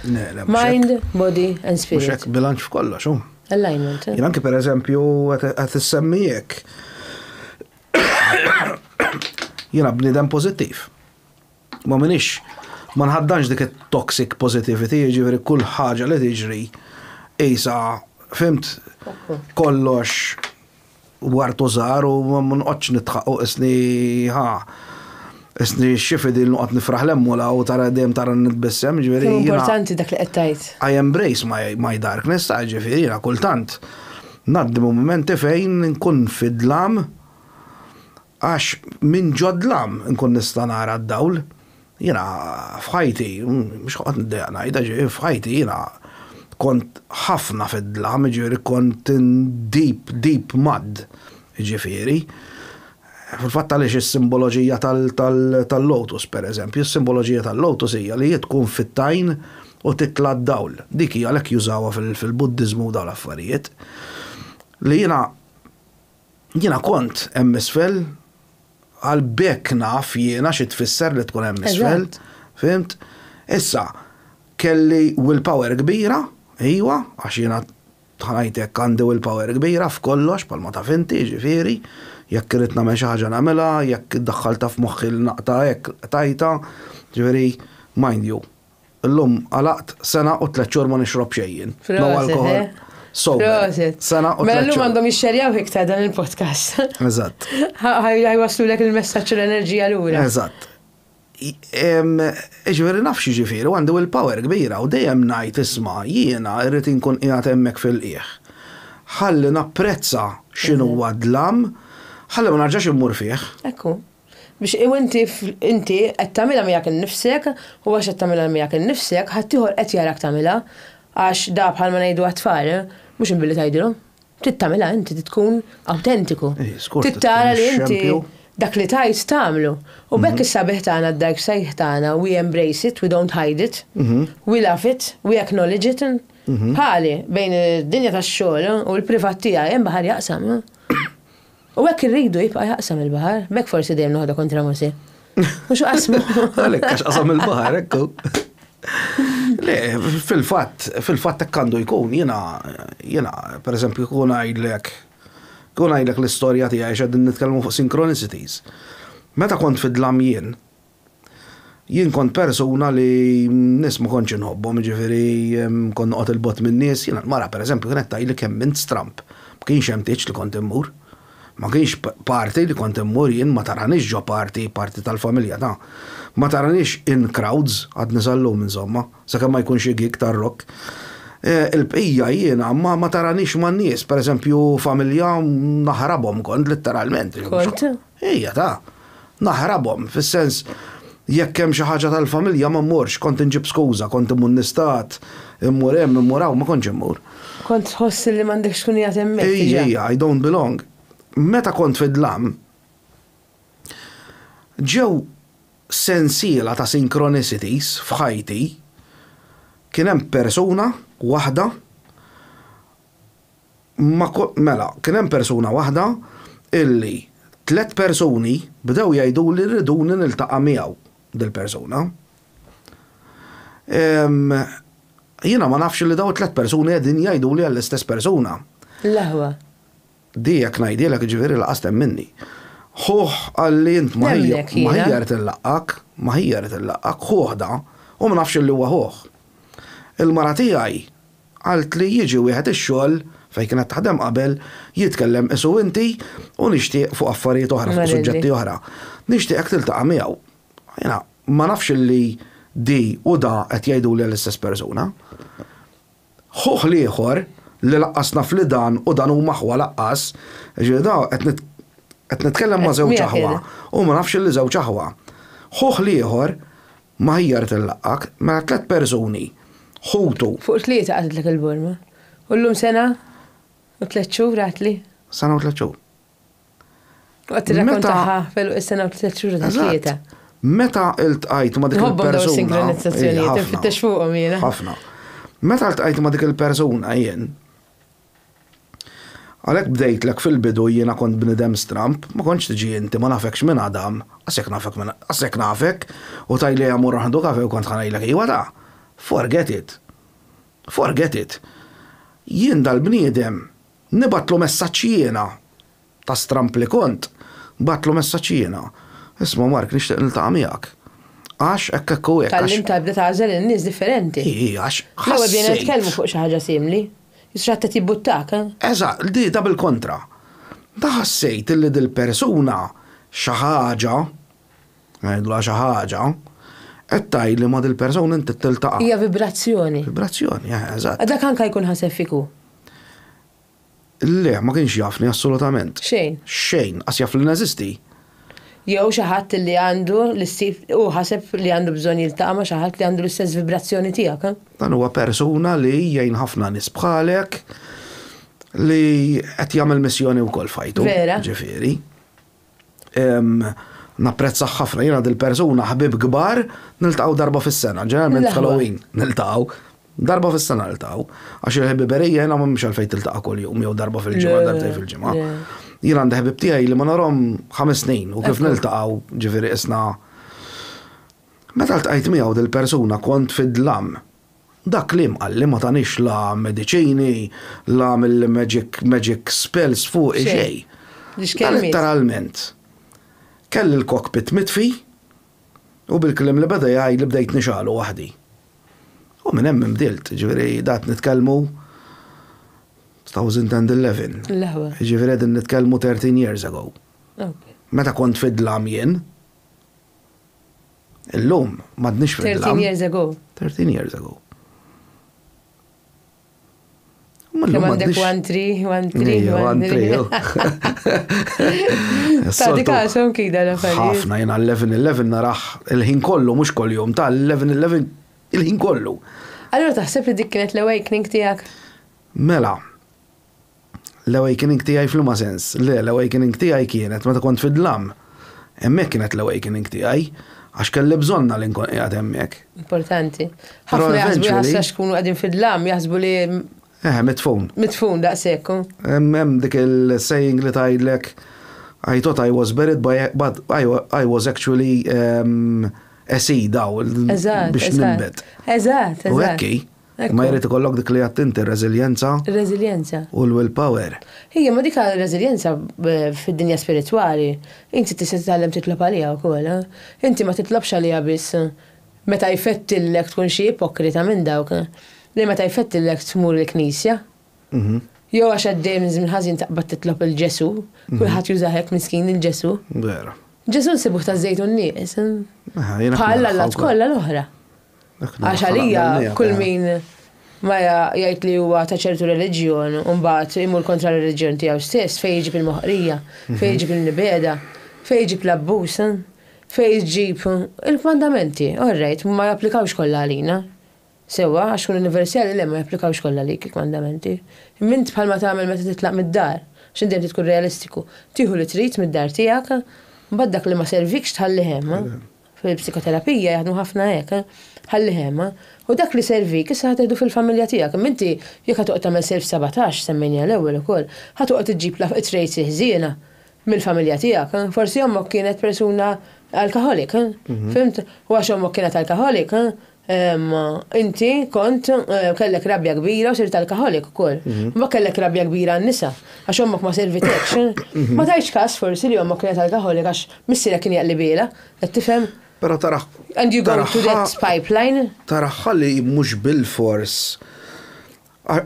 Mind, body and spirit. Mhux hekk bilanċ f'kollox, hu. Alignment. Jien anke pereżempju qed issemmi hekk. Jiena bniedem pożittiv. Ma minix ma nħaddanx dik it-toxic positivity, jiġifieri kull ħaġa li tiġri qisha, fimt kollox wartu żgħar u ma nqgħodx nidħaq u qisni ħa qisni xi fidil noqgħod nifraħ l-emmula u tara dejjem tara nitbissem, ġifieri. Kemm importanti dak li qed tgħid. I embrace my, my darkness, ta' ġifieri kultant ngħaddi mumenti fejn nkun fidlam Għax minn ġodlam inkun nista' nara d-dawl. Jiena f'ħajti, mhux ħanoqgħod niddejjaq ngħidha, ġifieri f'ħajti jiena kont ħafna fid-dlam, jiġifieri kont in deep, deep mud, jiġifieri. Fil-fatt għaliex is-simboloġija tal-lotus, pereżempju, is-simboloġija tal-lotus hija li hi tkun fit-tajn u titla' d-dawl. Dik hi għalhekk jużawha fil-Buddiżmu u dawn l-affarijiet. Li jiena Jiena kont hemm isfel, għal bekk naf jiena xi tfisser li tkun hemm isfel. Fimt? Issa, kelli will power kbira, ejwa, għax jiena tħanajtek għandi will power kbira f'kollox bħalma taf inti, jiġifieri, jekk irrid nagħmel xi ħaġa nagħmilha, jekk iddaħħaltha f'moħħi li naqta' hekk, qtajtha, jiġifieri, mind you, Illum għalaqt sena u tliet xhur ma nixrob xejn jien. No alkohol. Eh? So, sena u Mela l-lum għandhom jixxerjaw iktar dan il-podcast. Eżatt. Ħajwaslu lek il-messaċ u l-enerġija l-ura. Eżatt. Iġveri naf xieġifiri, għandu il-power kbira u dejjem najt isma jiena irrit inkun qiegħed hemmhekk fil-qieħ. Ħalli napprezza x'inhu għadlam, mhm. ħalli ma narġax immur fih. Ekku. Biex u inti, inti qed tagħmilha miegħek innifsek u għax qed tagħmilha miegħek innifsek, ħaddieħor qed jarak tagħmilha. Għax da bħalma ngħidu għat-tfal, mhux inbilli tgħidilhom. Trid tagħmilha inti, trid tkun awtentiku. Trid tara li inti dak li tgħid tagħmlu. U b'hekk is-sabiħ tagħna, d-dark side tagħna, we embrace it, we don't hide it, we love it, we acknowledge it. Bħali, bejn id-dinja tax-xogħol u l-privat tiegħi hemm baħar jaqsam. U hekk irridu jibqa' jaqsam il-baħar, b'hekk forsi dejjem noħodha kontra Mosè. Mhux qasmu. Għalhekk għax qasam il-baħar, ekku. Le, fil-fatt, fil-fatt hekk għandu jkun, jiena jiena pereżempju kun għajdlek kun għajdlek l-istorja tiegħi x'qegħdin nitkellmu fuq synchronicities. Meta kont fid-dlam jien, Jien kont persuna li nies ma kontx inħobbhom, jiġifieri kont noqgħod 'il bogħod min-nies, jiena l-mara pereżempju kienet tgħidli kemm int stramb. Ma kienx hemm tieġ li kont immur. Ma kienx party li kont immur jien ma taranix ġo party, party tal-familja ta'. Ma taranix in crowds, għadni sal-lum insomma, sakemm ma jkun xi gig tar-rock. Il-bqija jiena ma taranix man-nies, pereżempju familja naħrabhom kont litteralment. Kont? Ejja ta! Naħrabhom, fis-sens, jekk hemm xi ħaġa tal-familja ma mmurx, kont inġib skuża, kont immur nistat, immur hemm, immur hawn, ma kontx immur. Kont tħoss li m'għandekx tkun qiegħed hemmhekk diġà. Ejja, ejja, I don't belong. Meta kont fid-dlam, ġew sensiela ta' synchronicities f'ħajti, kien hemm persuna waħda, Ma Mela, kien hemm persuna waħda illi tliet persuni bdew jgħiduli rriduni niltaqa' miegħu dil-persuna. Ehm, jiena ma nafx li dawn it-tliet persuni qegħdin jgħiduli għall-istess persuna. L-aħwa. Di jekk ngħidilek jiġifieri laqas temminni. Ħuh qalli int ma hija rrid illaqgħek, ma hija rrid illaqgħek, ħuh da, u ma nafx li huwa ħuh. Il-mara tiegħi Qaltli jiġi wieħed ix-xogħol, fejn kienet taħdem qabel, jitkellem qisu inti u nixtieq fuq affarijiet oħra, fuq suġġetti oħra. Nixtieqek tiltaqa' miegħu. Jiena ma nafx illi di u da qed jgħiduli għall-istess persuna. Ħuh l-ieħor, li laqqas naf li dan u dan huma ħwa laqqas, jiġifieri da qed qed nitkellem ma' żewġ aħwa u ma nafx illi żewġ aħwa. Ħuh l-ieħor, M'aħjar tillaqqaq ma' tliet persuni, ħutu. Fuq tlieta qatlitlek il-burma. U llum sena u tliet xhur għatli. Sena u tliet xhur. U qed tirrakkontaha f'għeluq is-sena u tliet xhur ta' tlieta. Eżatt. Meta ltqajt ma' dik il-persuna. Nħobbhom dawn is-sinkronizzazzjonijiet, infittex fuqhom jiena. Ħafna. Meta ltqajt ma' dik il-persuna jien. Għalhekk bdejtlek fil-bidu jiena kont bniedem stramb, ma kontx tiġi inti, ma nafekx minn Adam, qas jekk nafek minn, qas jekk nafek, u tgħidli ejja mmorru nieħdu kafè u kont ħa ngħidlek iwa ta'. Forget it. Forget it. Jien dal-bniedem nibgħatlu messaġġ jiena. Ta' stramb li kont, bgħattlu messaġġ jiena, Isma' Mark, nixtieq niltaqa' miegħek. Għax hekk hekk u hekk, għax. Tgħallimtha tibda tagħżel in-nies differenti. Hi, hi, għax ħassejt. Fl-ewwel bdejna nitkellmu fuq xi ħaġa simli. Jisir ħadd qed jibbuttak, eh? Eżatt, di, da bil-kontra. Da ħassejt li dil-persuna xi ħaġa, ngħidulha xi ħaġa, qed tgħid li ma' dil-persuna int trid tiltaqa'. Hija vibrazzjoni. Vibrazzjoni, eh, eżatt. Dak anke jkun ħaseb fik hu. Le, ma kienx jafni assolutament. Xejn. Xejn, qas jaf li neżisti. Jew xi ħadd li għandu l-istess, hu ħaseb li għandu bżonn jiltaqa' ma' xi ħadd li għandu l-istess vibrazzjoni tiegħek, eh? Dan huwa persuna li jgħin ħafna nies bħalek li qed jagħmel missjoni wkoll f'ħajtu. Vera. Ġifieri. Napprezzah ħafna, jiena dil-persuna ħbieb kbar niltaqgħu darba fis-sena, ġeneralment f'Halloween niltaqgħu. Darba fis-sena niltaqgħu. Għax il-ħbiberija jiena m'hemmx għalfejn tiltaqa' kuljum jew darba fil-ġimgħa, darbtejn fil-ġimgħa. Jien għandi ħbieb tiegħi li ma narahom ħames snin u kif niltaqgħu, ġifieri qisna. Meta ltqajt miegħu dil-persuna kont fid-dlam. Dak kliem qalli ma tanix la mediċini la għamilli magic magic spells fuqi xejn. Dan litteralment kelli l-cockpit mitfi u bil-kliem li beda jgħidli bdejt nixgħalu waħdi. U minn hemm inbdilt, jiġifieri da qed nitkellmu 2011. L-eħwa. Jiġifieri qegħdin nitkellmu 13 years ago. Meta kont fid-dlam jien. Illum, madnix fil 13 years ago. 13 years ago. Kemm għandek one tree, one tree, one tree. Ta' di kaxom kida la fari. Ħafna jena 11-11 narax il-ħin kollu, mux kollu jom, ta' 11-11 il-ħin kollu. Allora taħseb li dik kienet l-awakening tijak? Mela, L-awakening tiegħi f'liema sens? Le, l-awakening tiegħi kienet meta kont fid-dlam. Hemmhekk kienet l-awakening tiegħi, għax kelli bżonnha li nkun qiegħed hemmhekk. Importanti. Ħafna jaħsbu jaħsbu għax kunu qegħdin fid-dlam, jaħsbu li Eh, mitfun. Mitfun daqshekk. Hemm dik il-saying li tgħidlek I thought I was buried, but I, I was actually um, a seed aw biex nimbet. Eżatt, eżatt. U hekk Imma jrid ikollok dik li għedt inti, reżiljenza. Reżiljenza. U l-will power. Ija, ma dik reżiljenza fid-dinja spiritwali, inti tista' titgħallem titlob għaliha wkoll. Inti ma titlobx għaliha biss meta jfettillek tkun xi ipokrita minn dawk li meta jfettillek tmur il-knisja. Jew għax għaddej minn żmien ħażin taqbad titlob lil Ġesù, kulħadd jużah hekk miskin lil Ġesù. Vera. Ġesù nsibuh taż-żejtun nieqes. Bħal allat kollha l-oħra. Għax għalija kull min ma jgħid li huwa ta' ċertu reliġjon u mbagħad imur kontra r-reliġjon tiegħu stess fejn jiġib il-moħqrija, fejn jiġib il-nibeda, fejn jiġib l-abbuż, fejn jiġib il-kmandamenti, orrejt, ma japplikawx kollha għalina. Sewwa, għax kun universali le ma japplikawx kollha għalik il-kmandamenti. Mint bħalma tagħmel meta titlaq mid-dar, x'inti inti tkun realistiku, tieħu li trid mid-dar tiegħek, mbagħad dak li ma servikx tħallih hemm. Fil-psikoterapija jaħdmu ħafna hekk, ħalli hemm, u dak li jservik issa ħa tieħdu fil-familja tiegħek, imma inti jekk ħa toqgħod tagħmel self sabotage, semmejniha l-ewwel ukoll, ħa toqgħod iġġib it-traits il-ħżiena mill-familja tiegħek. Forsi ommok kienet persuna alcoholic, fimt? U għax ommok kienet alcoholic, Imma inti kont kellek rabja kbira u sirt alkoholik ukoll. Mhm. Ma kellek rabja kbira għan-nisa għax ommok ma servitek. Ma tajx każ forsi li ommok kienet alkoholik għax missierek kien jaqlibiela, qed tifhem? Pero taraħ. And you go to that pipeline? Taraħħa li mhux bil-fors.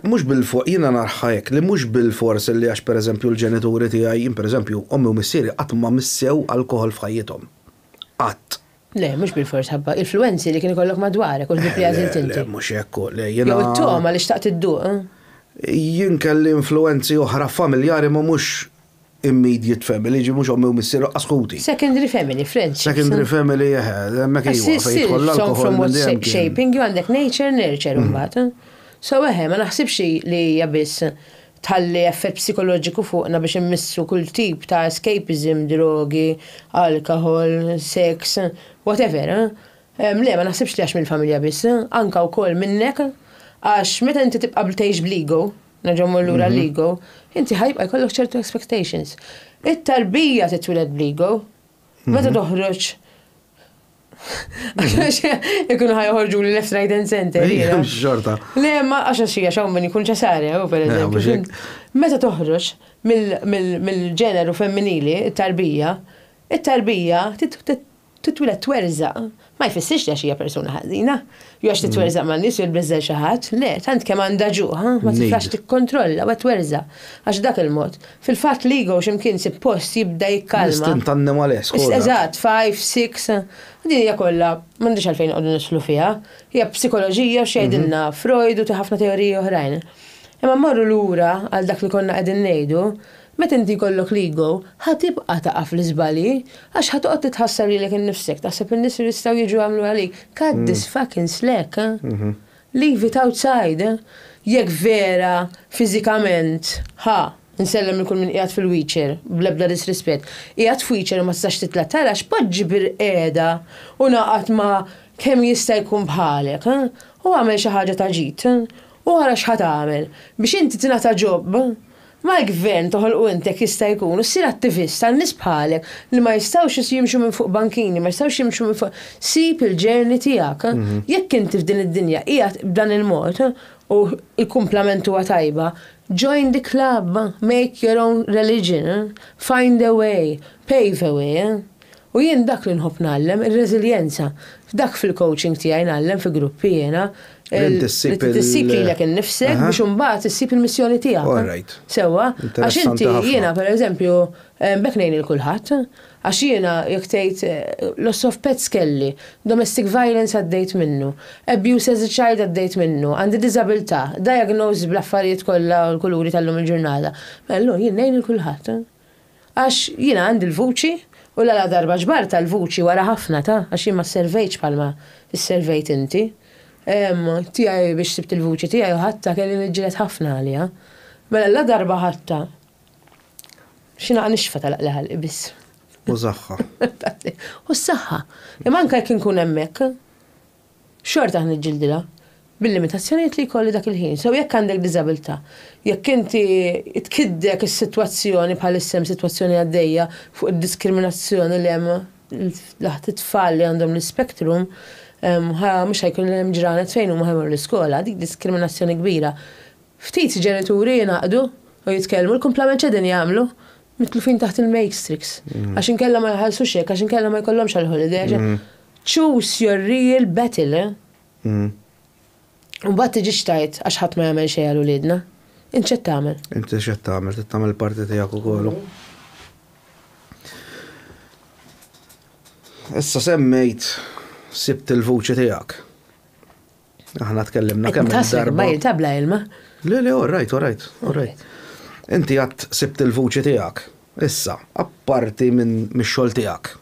Mhux bil-fors, jiena narħa hekk li mhux bil-fors li għax pereżempju l-ġenituri tiegħi, jien pereżempju ommi u missieri qatt ma missew alkohol f'ħajjithom. Qatt. Le, mhux bilfors ħabba influwenzi li kien ikollok madwarek u l-ħbieb li għażilt inti. Le, mhux hekk hu, le jiena. Jew it-togħma li xtaqt idduq. Jien kelli influwenzi oħra familjari imma mhux immediate family, jiġifieri mhux ommi u missieri u lanqas ħuti. Secondary family, friendships. Secondary family, eħe, hemmhekk iva, fejn jidħol l-alkoħol minn dejjem. From what shaping you għandek nature, nurture imbagħad. So eħe, ma naħsibx li hija biss tħalli effett psikoloġiku fuqna biex immissu kull tip ta' escapism, drogi, alkoħol, sex, whatever. Le, ma naħsibx li għax mill-familja biss, anke wkoll minnek, għax meta inti tibqa' tgħix bl-ego, nerġa' mmur lura għall-ego, inti ħa jibqa' jkollok ċertu expectations. It-tarbija titwieled bl-ego. Meta toħroġ Għax ikun ħajħorġu li left right and center. Xorta. Le, ma għax għax xie xaw minn ikun ċesare, u per eżempju. Meta toħroġ mill-ġeneru femminili, it-tarbija, it-tarbija titwila twerza, ma jfissirx li xie persuna ħażina. Jew għax titwerżaq ma' nies jew tbeżżel xi ħadd, le, tant kemm għandha ġuħ, ha, ma titlax tikkontrolla, ma twerżaq. Għax b'dak il-mod, fil-fatt l-ego x'imkien isib post jibda jikkalma. L-istint annimalesk, hu dak. Eżatt, five, six, din hija kollha, m'għandix għalfejn noqogħdu nidħlu fiha, hija psikoloġija u x'jgħidilna Freud u ħafna teoriji oħrajn. Imma mmorru lura għal dak li konna qegħdin ngħidu, Meta inti jkollok l-ego, ħa tibqa' taqa' fl-iżbalji, għax ħa toqgħod titħassar lilek innifsek, taħseb in-nies li jistgħu jiġu jagħmlu għalik, cut this fucking slack, leave it outside. Jekk vera fiżikament, ħa, insellem lil kull min qiegħed fil-wheelchair, bl-ebda disrispett, qiegħed f'wheelchair u ma tistax titla' tarax, poġġi bil-qiegħda u ngħaqad ma' kemm jista' jkun bħalek, u agħmel xi ħaġa ta' ġid, u ara x'ħa tagħmel, biex inti tingħata job. Mal-Gvern toħolqu int jekk jista' jkun u ssir attivist għal nies bħalek li ma jistgħux jimxu minn fuq bankini, ma jistgħux jimxu minn fuq sib il-journey tiegħek. Jekk inti f'din id-dinja qiegħed b'dan il-mod u l-kumplament huwa tajba, join the club, make your own religion, find a way, pave a way. U jien dak li nħobb ngħallem, ir-reżiljenza. F'dak fil-coaching tiegħi ngħallem fi gruppi jiena Li tissib il- Li tissib lilek innifsek Aha. biex imbagħad issib il-missjoni tiegħek. All right. Sewwa? Għax Interessanti inti ħafna. jiena pereżempju eh, b'hekk ngħin lil kulħadd. Għax jiena jekk tgħid eh, loss of pets kelli, domestic violence għaddejt minnu, abuse as a child għaddejt minnu, għandi diżabilità, diagnosed bl-affarijiet kollha u l-kuluri tal-lum il-ġurnata. Mela llum jien ngħin lil kulħadd. Għax jiena għandi l-vuċi, u l-għala darba ġbartha l-vuċi wara ħafna ta', għax jien ma sservejtx bħalma sservejt inti, tiegħi biex sibt il-vuċi tiegħi u ħadtha kelli niġġieled ħafna għaliha. Mela la darba ħadtha, xi naqa' nixfa telaq li ħalqi biss. U s-saħħa. U s-saħħa. Imma anke jekk inkun hemmhekk. Xorta ħa niġġildilha, bil-limitazzjonijiet li jkolli dak il-ħin. Sew jekk għandek diżabilità, jekk inti tkiddek is-sitwazzjoni, bħalissa hemm sitwazzjoni għaddejja fuq id-diskriminazzjoni li hemm f'daħt it-tfal li għandhom l-ispectrum, ħa mhux ħa jkun hemm ġranet fejn huma ħa jmorru l-iskola, dik diskriminazzjoni kbira. Ftit ġenituri jingħaqdu u jitkellmu, l-kumplament x'qegħdin jagħmlu? Mitlufin taħt il-matrix. Għax inkella ma jħallsux hekk, għax inkella ma jkollhomx għall-holiday. Choose your real battle. Mbagħad tiġix tgħid għax ħadd ma jagħmel xejn għal uliedna. Int x'qed tagħmel? Int x'qed tagħmel? Trid tagħmel il-parti tiegħek ukoll. Issa semmejt sibt il-vuċi tiegħek. Aħna tkellimna kemm darba. Ma jitabla ilma. Le, le, all right, all right, all right. Inti għat sibt il-vuċi tiegħek. Issa, apparti minn mix-xogħol tiegħek.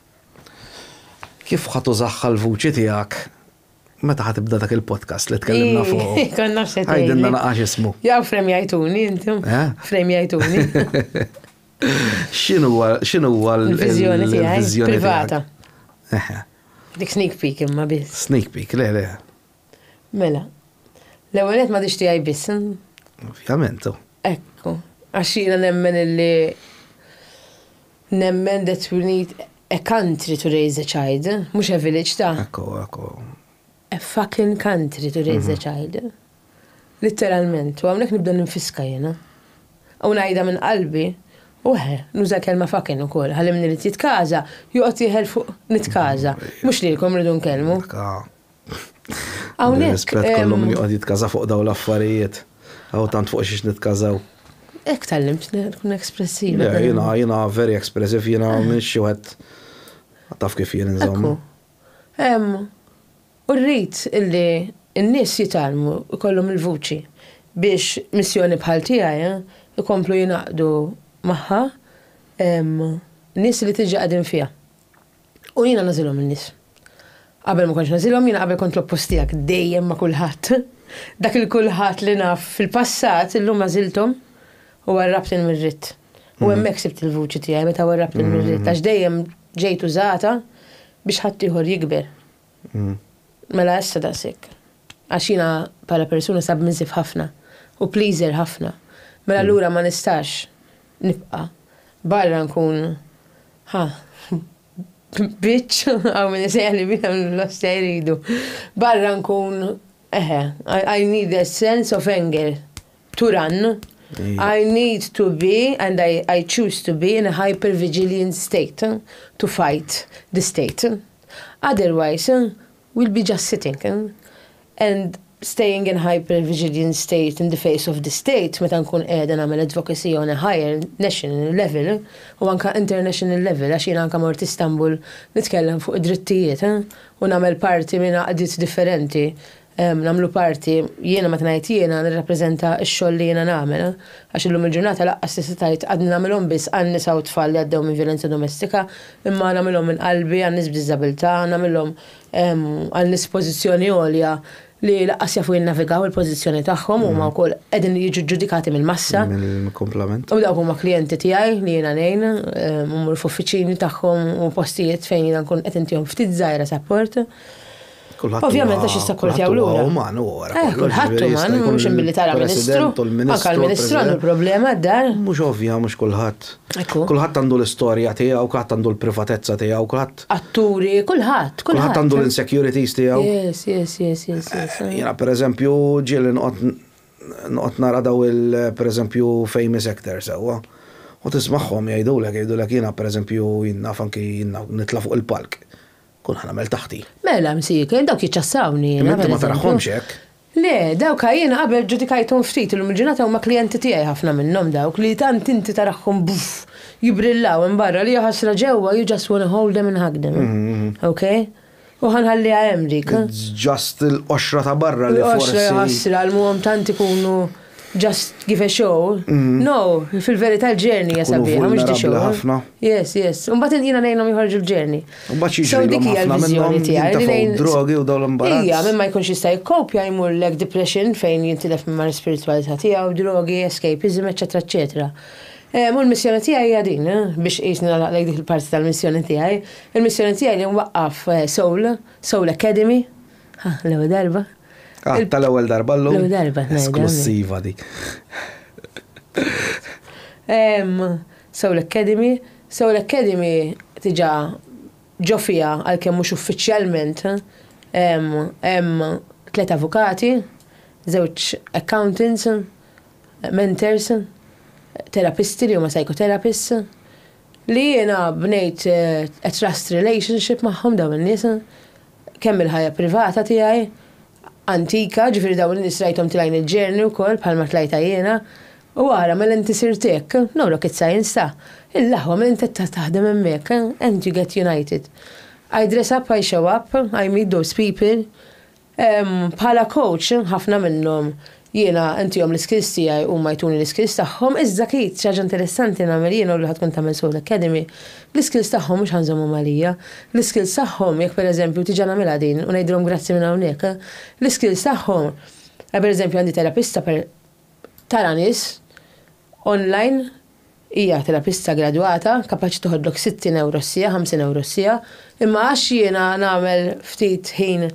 Kif ħadd użaħħa l-vuċi tiegħek meta ħatibda dak il-podcast li tkellimna fuq. Konna xetajn. Għajdinna naqax ismu. Jaw frem jajtuni, intom. Eh? Frem jajtuni. Xinu għal. Xinu għal. Il-vizjoni tiegħi. Privata. Dik sneak peek imma biss. Sneak peek, le le. Mela. L-ewwel qed ma tixti għaj biss. Ovvjament. Oh. Ekku. Għax jiena nemmen illi nemmen that we need a country to raise a child, mhux a village ta'. Ekku, ekku. A fucking country to raise a child in. Litteralment, u hawnhekk nibda ninfiska jiena. U ngħidha minn qalbi, u eħe, nuża l-kelma fucking ukoll, ħalli min irid jitkaża, joqgħod jieħel fuq nitkaża, mhux lilkom irridu nkellmu. Hawnhekk. Rispett kollu min joqgħod jitkaża fuq dawn l-affarijiet. Hawn tant fuq xiex nitkażaw. Hekk tgħallimt tkun espressiva. Jiena, jiena very expressive, jiena m'iniex xi wieħed taf kif jien insomma. hemm u rrid illi n-nies jitgħallmu, ikollhom il-vuċi biex missjoni bħal tiegħi jkomplu jingħaqdu magħha nies li diġà qegħdin fiha. U jiena nagħżilhom in-nies. Qabel ma kontx nagħżilhom, jiena qabel kont l-oppost tiegħek, dejjem ma' kulħadd. Dak il-kulħadd li naf fil-passat illum għażilthom. U warrabt il-mirrid. U hemmhekk sibt il-vuċi tiegħi meta warrabt il-mirrid, għax dejjem ġejt użata biex ħaddieħor jikber. Mela issa daqshekk. Għax jiena bħala persuna submissive ħafna u pleaser ħafna. Mela allura ma nistax nibqa' barra nkun ha bitch, hawn min isejħli biha hawn l-ostja jridu. Barra nkun eħe, I need a sense of anger. To run, I need to be and I, I choose to be in a hyper-vigilant state to fight the state. Otherwise, we'll be just sitting and staying in hyper-vigilant state in the face of the state meta nkun qiegħda nagħmel advocacy on a higher national level u anke international level għax jiena anke mort Istanbul nitkellem fuq id-drittijiet u nagħmel parti minn għaqdiet differenti Nagħmlu parti, jiena meta ngħid jiena nirrappreżenta x-xogħol li jiena nagħmel, għax illum il-ġurnata lanqas tista' tgħid għadni nagħmilhom biss għan-nisa u t-tfal li għaddew minn vjolenza domestika, imma nagħmilhom minn qalbi għan-nies b'diżabilità, nagħmilhom għal nies f'pożizzjoni għolja li lanqas jafu jinnavigaw il-pożizzjoni tagħhom, huma wkoll qegħdin jiġu ġġudikati mill-massa. Mill-kumplament. U dawk huma klijenti tiegħi li jiena ngħin, immur f'uffiċini tagħhom u postijiet fejn jiena nkun qed intihom ftit żgħira sapport. Kulħadd Ovvjament għax jissapportjaw lura. Kulħadd uman u wara. Eh, kulħadd uman, mhux billi tara ministru. Anka l-ministru għandu l-problema d-dar. Mhux ovvja, mhux kulħadd. Kulħadd għandu l-istorja tiegħu, kulħadd għandu l-privatezza tiegħu, kulħadd. Atturi, kulħadd, kulħadd. Kulħadd għandu l-insecurities tiegħu. Yes, yes, yes, yes. Eh, Jena, per eżempju, ġieli noqgħod nara daw il, per eżempju, famous actors, sewwa. U tismagħhom jgħidulek, jgħidulek jiena, per eżempju, jinnaf anki jinnaf nitla fuq il-palk. Kun ħanamel taħti. Mela, msieken, dawk jiċċassawni. Imma inti ma tarahomx hekk. Le, dawk jiena qabel ġudikajthom ftit illum il-ġurnata huma klijenti tiegħi ħafna minnhom dawk li tant inti tarahhom buff jibrillaw hemm barra li jaħasra ġewwa you just wanna hold them and hug them. Okay? U ħanħalliha hemm dik. Just il-qoxra ta' barra li forsi. Il-qoxra jaħasra l-muhom tant ikunu. Just give a show. Mhm. No, fil-verità l-ġerni hija Kunu sabiħa, mhux di vulnerabbli show. ħafna. Yes, yes. Imbagħad jiena ngħinhom joħorġu l-ġerni. Mbagħad So jiġrilhom dik hija ħafna l-viżjoni minnhom tiegħi li jintefgħu ngħin d-drogi u dawn l-imbarazz. Ija, minn ma jkunx jista' jikkopja jmur lek depression fejn jintilef minn mar spiritualità tiegħu, drogi, escapism, eċetera, eċetera. Eh, Mu l-missjoni tiegħi hija din, eh, biex qisni nagħlaqlek dik il-parti tal-missjoni tiegħi. Il-missjoni tiegħi li nwaqqaf eh, Soul, Soul Academy, Ha, l-ewwel darba. Ah, tal-ewwel darba llum. L-ewwel darba. Esklussiva dik. Soul Academy. Soul Academy tiġa ġo fija għalkemm mhux uffiċjalment hemm tliet avukati, żewġ accountants, mentors, terapisti li huma psychotherapists li jiena bnejt eh, a trust relationship magħhom dawn in-nies Kemm il-ħajja privata tiegħi, antika, ġifieri dawn in-nies rajthom tlajn il-ġerni wkoll bħalma tlajtha jiena, u ara mela inti sirt hekk, no rocket science ta, il-aħwa mela inti qed taħdem hemmhekk, and you get united. I dress up, I show up, I meet those people, bħala coach ħafna minnhom Jiena ntihom l-iskills tiegħi huma jtuni l-iskills tagħhom, iżda akid xi ħaġa interessanti nagħmel jiena u li ħa tkun tagħmel sew l-Academy, l-iskills tagħhom mhux ħa nżommhom għalija. L-iskills tagħhom, jekk per eżempju tiġa nagħmilha din u ngħidilhom grazzi minn hawnhekk, l-iskills tagħhom, per eżempju għandi terapista per tara nies, Online, Hija terapista gradwata, kapaċi toħodlok 60 ewro s-siegħa, 50 ewro s-siegħa, imma għax jiena nagħmel ftit ħin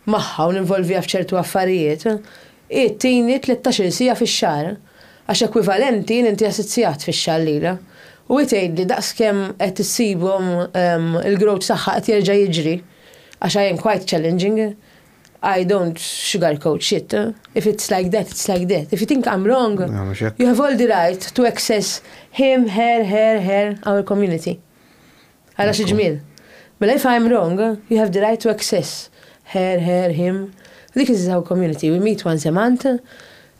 magħha u ninvolviha f'ċertu affarijiet, hi tini tlettax-il siegħa fix-xahar, għax ekwivalenti nintiha sitt siegħat fix-xahar lilha. U hi tgħidli daqskemm qed issibhom il-growth tagħha qed jerġa' jiġri, għax I am quite challenging. I don't sugarcoat shit. If it's like that, it's like that. If you think I'm wrong, you have all the right to access him, her, her, her, our community. Għala xi ġmiel. Mela if I'm wrong, you have the right to access her, her, him. Dik is our community. We meet once a month.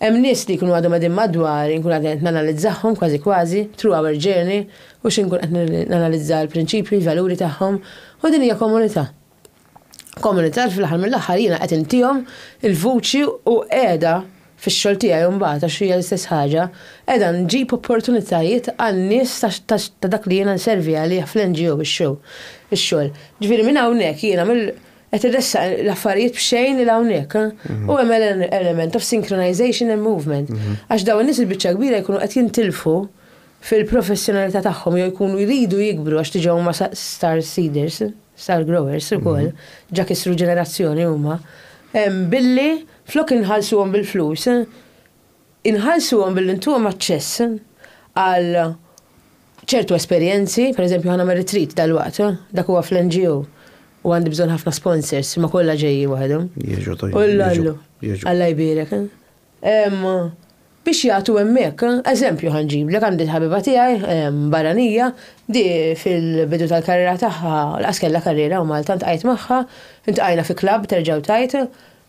Hemm nies li jkunu għadhom għadin madwar, inkun għadin nanalizzahom kważi kważi, through our journey, u xinkun qed nanalizza l-prinċipji, l-valuri tagħhom, u din hija komunità. komunità li fl-aħħar mill-aħħar jiena qed intihom il-vuċi u qiegħda fix-xogħol tiegħi mbagħad għax hija l-istess ħaġa, qiegħda nġib opportunitajiet għan-nies ta' dak li jiena nservi għalih fl-NGO ix-xogħol. Ġifieri minn hawnhekk jiena mill qed irressaq l-affarijiet b'xejn 'il hawnhekk. U hemm element of synchronization and movement. Għax dawn in-nies il-biċċa l-kbira jkunu qed jintilfu fil-professjonalità tagħhom jew jkunu jridu jikbru għax diġà huma star seeders. star growers ukoll, ġa kissru ġenerazzjoni huma, billi flok inħallsuhom bil-flus, inħallsuhom billi ntuhom aċċess għal ċertu esperjenzi, pereżempju ħa nagħmel retreat dalwaqt, dak huwa fl-NGO, u għandi bżonn ħafna sponsors, imma kollha ġejjin waħedhom. Jiġu, jiġu. Alla jbierek. Ehm, biex jagħtu hemmhekk. Eżempju ħa nġiblek, għandi l-ħabiba tiegħi, ehm, barranija, di fil-bidu tal-karriera tagħha, laqas kellha karriera u Malta, ntqajt magħha, intqajna fi klabb terġa' u tgħid,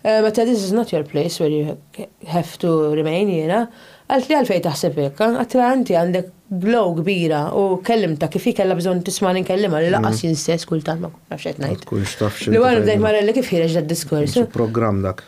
ehm, għedtha this is not your place where you have to remain jiena, qaltli għalfejn taħseb hekk, għedtilha inti għandek glow kbira u kellimtha kif hi kellha bżonn tismagħni nkellimha li laqas jien stess kultant ma nafx qed ngħid. Li wara bdejt marrelli kif ħireġ dad-diskors. Programm dak.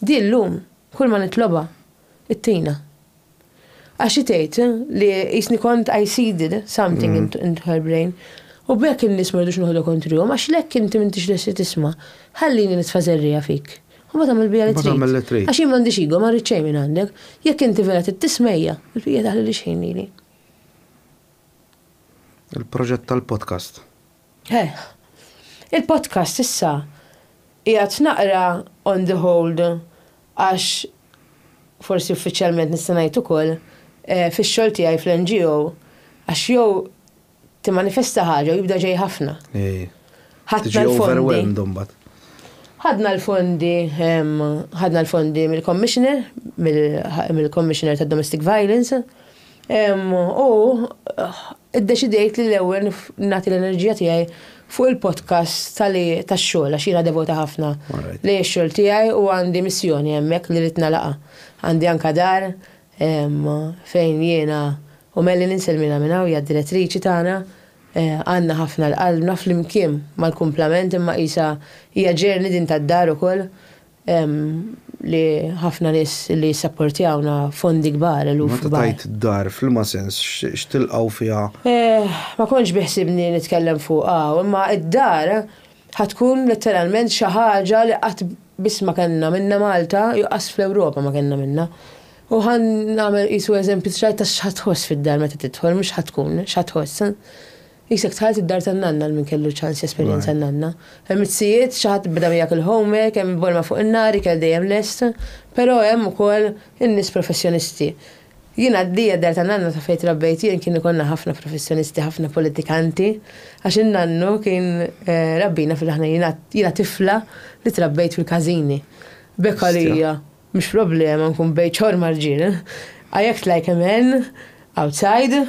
Di llum kull ma nitlobha ittina. Għax hi tgħid li qisni kont I seeded something into her brain u b'hekk in-nies ma rridux noħodha kontrihom għax l-hekk inti m'intix lesti tisma', ħallini nitfa' żerriegħa fik. U mbagħad agħmel biha li trid. Mbagħad agħmel li trid. Għax jien m'għandix ego, ma rrid xejn minn għandek. Jekk inti vera trid tismejja, il-bqija taħlilix ħin lili. Il-proġett tal-podcast. Eħ. Il-podcast issa qiegħed naqra on the hold għax, forsi uffiċjalment nista' ngħid ukoll, fix-xogħol tiegħi fl-NGO għax jew timmanifesta ħaġa u jibda ġej ħafna. Ħadna l-fondi. Ħadna l-fondi, ħadna l-fondi mill-Commissioner, mill-Commissioner tad-Domestic Violence, u Iddeċidejt li l-ewwel nagħti l-enerġija tiegħi fuq il-podcast tax-xogħol għax jiena devota ħafna lejn ix-xogħol tiegħi u għandi missjoni hemmhekk li rrid nagħlaqha. Għandi anke dar fejn jiena u Melly ninsellmilha minn hawn, hija d-direttriċi tagħna, għandna ħafna 'l qalbna flimkien mal-kumplament imma qisha hija journey din tad-dar ukoll Hemm li ħafna nies li jissapportjawna fondi kbar, eluf kbar. Meta tgħid dar, f'liema sens, x'tilqgħu fiha? Ma kontx biħsibni nitkellem fuq hawn, imma d-dar ħa tkun letteralment xi ħaġa li qatt biss ma kellna minnha Malta jew qas fl-Ewropa ma kellna minnha. U ħa nagħmel qisu eżempju, tray ta' x'ħa tħoss fid-dar meta tidħol, mhux x'ħa tkun, x'ħa tħoss. Qisek dħalt id-dar tan-nanna għal min kellu ċans jesperjenza n-nanna. Hemm it-tzijiet, xi ħadd beda miegħek il-homework, hemm il-bolma fuq in-nar, ikel dejjem lest, però hemm ukoll in-nies professjonisti. Jien għaddija d-dar tan-nanna ta' fejn trabbejt jien kien ikollna ħafna professjonisti, ħafna politikanti, għax in-nannu kien rabbina fil-aħna jiena tifla li trabbejt fil-każini. B'hekk għalija mhux problema nkun bejt xorr mar-rġiel. I act like a man outside.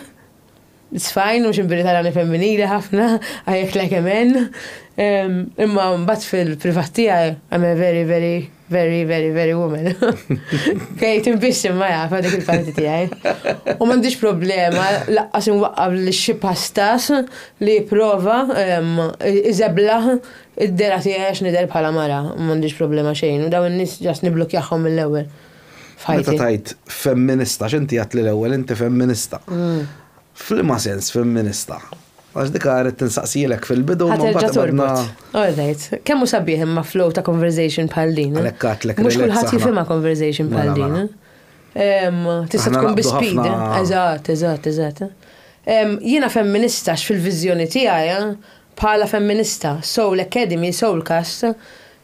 It's fine, mhux il-birita rani femminili ħafna, I act like a man. Imma mbagħad fil-privat tiegħi I'm a very, very, very, very, very woman. Kej timbixxi ma jafa dik il-parti tiegħi. U m'għandix problema laqqas inwaqqab li xi pastas li prova iżebla id-dera tiegħi għax nidher bħala mara, m'għandix problema xejn. U dawn in-nies ġast niblukjahom mill-ewwel. Meta tajt femminista, x'inti għat li l-ewwel inti femminista. Mm. F'liema sens femminista. Għax dik għaret tinsaqsilek fil-bidu. Għaterġa torbot. All right. Kemmu sabiħ imma flow ta' conversation bħal din. Eh? Għalekkatlek. Mux kullħat jifima conversation bħal din. Eh? Tista tkun bi speed. Eh? Eżat, eżat, eżat. Jina femminista fil-vizjoni tijaj, bħala femminista, soul academy, soul cast,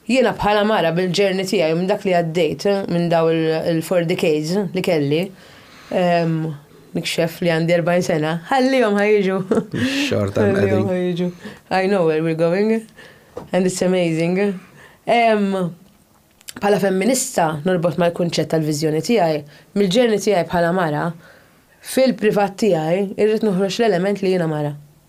Jiena bħala mara bil-journey tiegħi u minn dak li għaddejt minn dawn il-four decades li kelli, nikxef li għandi 40 sena, ħallihom ħa jiġu. Xorta hemm qegħdin. Ħallihom ħa jiġu. I know where we're going and it's amazing. Bħala femminista norbot mal-kunċett tal-viżjoni tiegħi, mill-journey tiegħi bħala mara, fil-privat tiegħi irrid noħroġ l-element li jiena mara.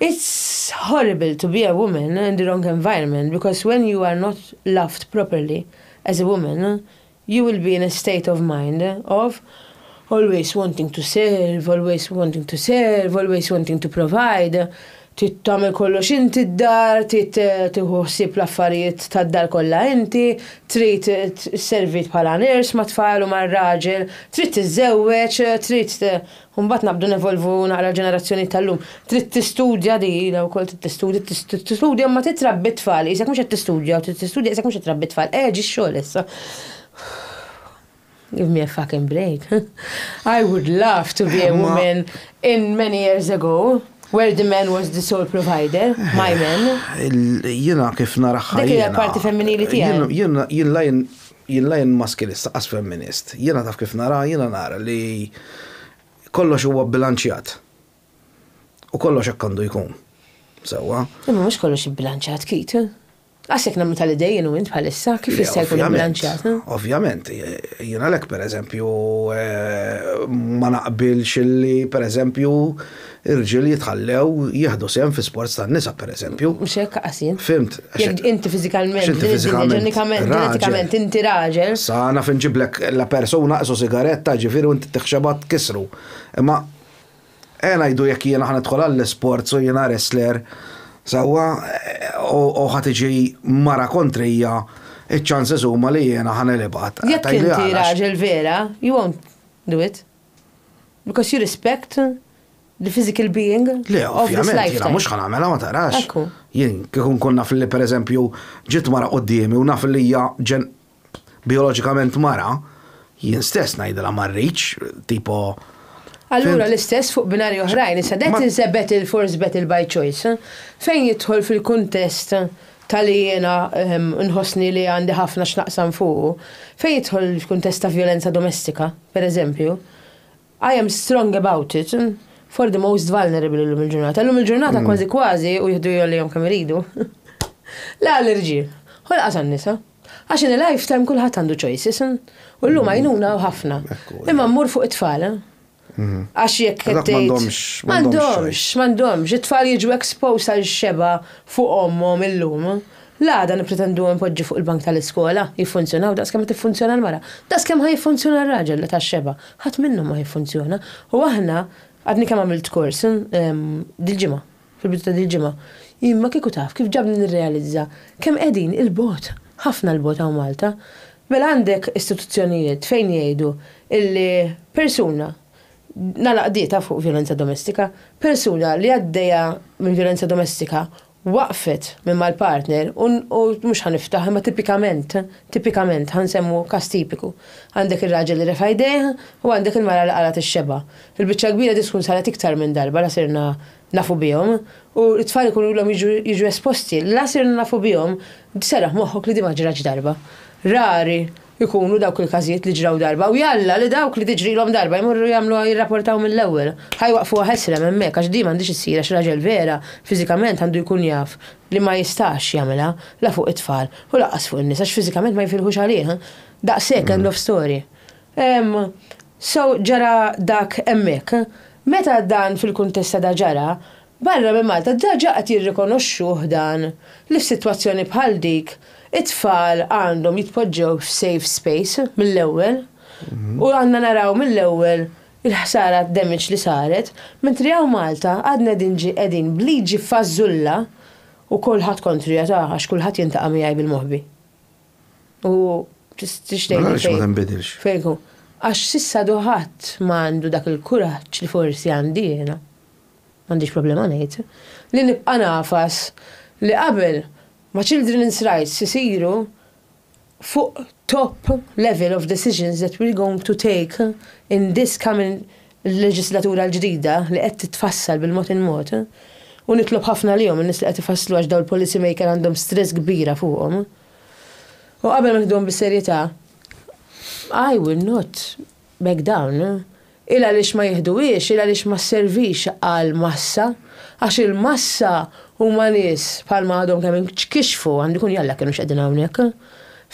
It's horrible to be a woman in the wrong environment because when you are not loved properly as a woman you will be in a state of mind of always wanting to serve, always wanting to serve, always wanting to provide, trid tagħmel kollox inti d-dar, trid tieħu ħsieb l-affarijiet tad-dar kollha inti, trid sservit bħala nurse mat-tfal u mar-raġel, trid tiżżewweġ, trid U mbagħad nabdu nevolvu naqra l-ġenerazzjonijiet tal-lum. Trid tistudja di ilha wkoll trid tistudja, tistudja ma titrabbi tfal, isek mhux qed tistudja, trid tistudja isek mhux qed trabbi tfal. Eh ġi xogħol issa. Give me a fucking break. I would love to be a woman in many years ago. Where the man was the sole provider, my man. Jina kif naraħħa. Dik il-parti femminili tiegħi. Jina jien Jien la jien maskilist laqqas femminist. Jiena taf kif nara, jiena nara li kollox huwa bbilanċjat. U kollox hekk għandu jkun. Sewwa? Imma mhux kollox ibbilanċjat, Keith. Qas jekk nagħmlu tal-idejn jien u int bħalissa, kif jista' jkun ibbilanċjat? Ovvjament. Jien għalhekk, pereżempju, ma naqbilx li, pereżempju, Irġiel jitħallew jieħdu sehem fi sports tan-nisa, pereżempju. Mhux hekk qas jien. Fhimt. Jekk inti fiżikalment, din id-dinja ġenikament, ġenetikament inti raġel. Sa naf inġiblek la persuna qisu sigaretta, ġifieri u inti tixxebgħa tkissru. Imma ejja ngħidu jekk jiena ħa nidħol għall-isports u jiena wrestler, sewwa, u ħa tiġi mara kontrija, iċ-chances huma li jiena ħa nilgħibha. Jekk inti raġel vera, you won't do it. Because you respect the physical being of this lifetime. Le, ovvjament, jiena mhux ħa nagħmilha ma taqrax. Ekku. Jien kieku nkun naf li pereżempju ġiet mara quddiemi u naf li hija ġen bijoloġikament mara, jien stess ngħidilha ma rridx, tipo. Allura l-istess fuq binarji oħrajn, issa that is a battle for is battle by choice, fejn jidħol fil-kuntest ta' li jiena nħossni li għandi ħafna x'naqsam fuqu, fejn jidħol f'kuntest ta' vjolenza domestika, per eżempju, I am strong about it for the most vulnerable illum il-ġurnata. Illum il-ġurnata kważi kważi u jihdu jgħollihom kemm iridu. La l-irġiel, ħolqat għan-nisa. Għax in a lifetime kulħadd għandu choices. U llum għajnuna u ħafna. Imma mmur fuq it-tfal. Mhm. Għax jekk qed tgħid. M'għandhomx. M'għandhomx, m'għandhomx. It-tfal jiġu exposed għal xeba fuq ommhom illum. L-għada nippretendu npoġġu fuq il-bank tal-iskola, jiffunzjonaw daqs kemm qed tiffunzjona l-mara. Daqs kemm ħa jiffunzjona r-raġel li tax-xeba. Ħadd minnhom ma ħa jiffunzjona. U aħna, għadni kemm għamilt kors, dil-ġimgħa. fil-bidu ta' dil-ġimgħa, jien ma kieku taf kif ġabni nirrealizza kemm qegħdin 'il bogħod, ħafna 'l bogħod hawn Malta. Mela għandek istituzzjonijiet fejn jgħidu illi persuna nagħlaq qdietha fuq vjolenza domestika, persuna li għaddejja minn vjolenza domestika waqfet minn mal-partner u mhux ħa niftaħ imma tipikament, tipikament, ħa nsemmu każ tipiku, għandek ir-raġel li refa' jdejh u għandek il-mara li qalgħet ix-xebgħa. Fil-biċċa l-kbira din tkun saret iktar minn darba la sirna nafu bihom u t-tfal ikunu ilhom jiġu esposti la sirna nafu bihom, serraħ moħħok li din ma ġratx darba. Rari jkunu dawk il-każijiet li ġraw darba u jalla li dawk li tiġrilhom darba jmorru jagħmluha jirrapportaw mill-ewwel. Ħa jwaqqfuha ħesrem hemmhekk għax din m'għandhiex issir għax raġel vera fiżikament għandu jkun jaf li ma jistax jagħmilha la fuq it-tfal u lanqas fuq in-nisa għax fiżikament ma jifilħux għalih. Daqshekk, end of story. So ġara dak hemmhekk. Meta dan fil-kuntest ta' da ġara, barra minn Malta daġa qed jirrikonoxxuh dan li f'sitwazzjoni bħal dik it-tfal għandhom jitpoġġew f'safe space mill-ewwel u għandna naraw mill-ewwel il-ħsara d-damage li saret, mentri hawn Malta għadna qegħdin ġi qegħdin b'liġi fażżulla u kulħadd kontrija ta' għax kulħadd jintaqa' miegħi bil-moħbi. U tistix tgħidli. Għaliex ma tinbidilx? Fejku, għax s'issa għadu ħadd ma għandu dak il-kuraġġ li forsi għandi jiena, m'għandix problema ngħid, li nibqa' ngħafas li qabel ma children's rights isiru fuq top level of decisions that we're going to take in this coming l-leġislatura l-ġdida li qed titfassal bil-mod il-mod, u nitlob ħafna għalihom in-nies li qed ifasslu għax dawn il-policy maker għandhom stress kbira fuqhom, u qabel ma nieħduhom bis-serjetà, I will not back down. Il għaliex ma jiħduhiex, il għaliex ma sservix għall-massa, għax il-massa huma nies bħalma għadhom kemm inkixfu, għandu jkun jalla kienux qegħdin hawnhekk,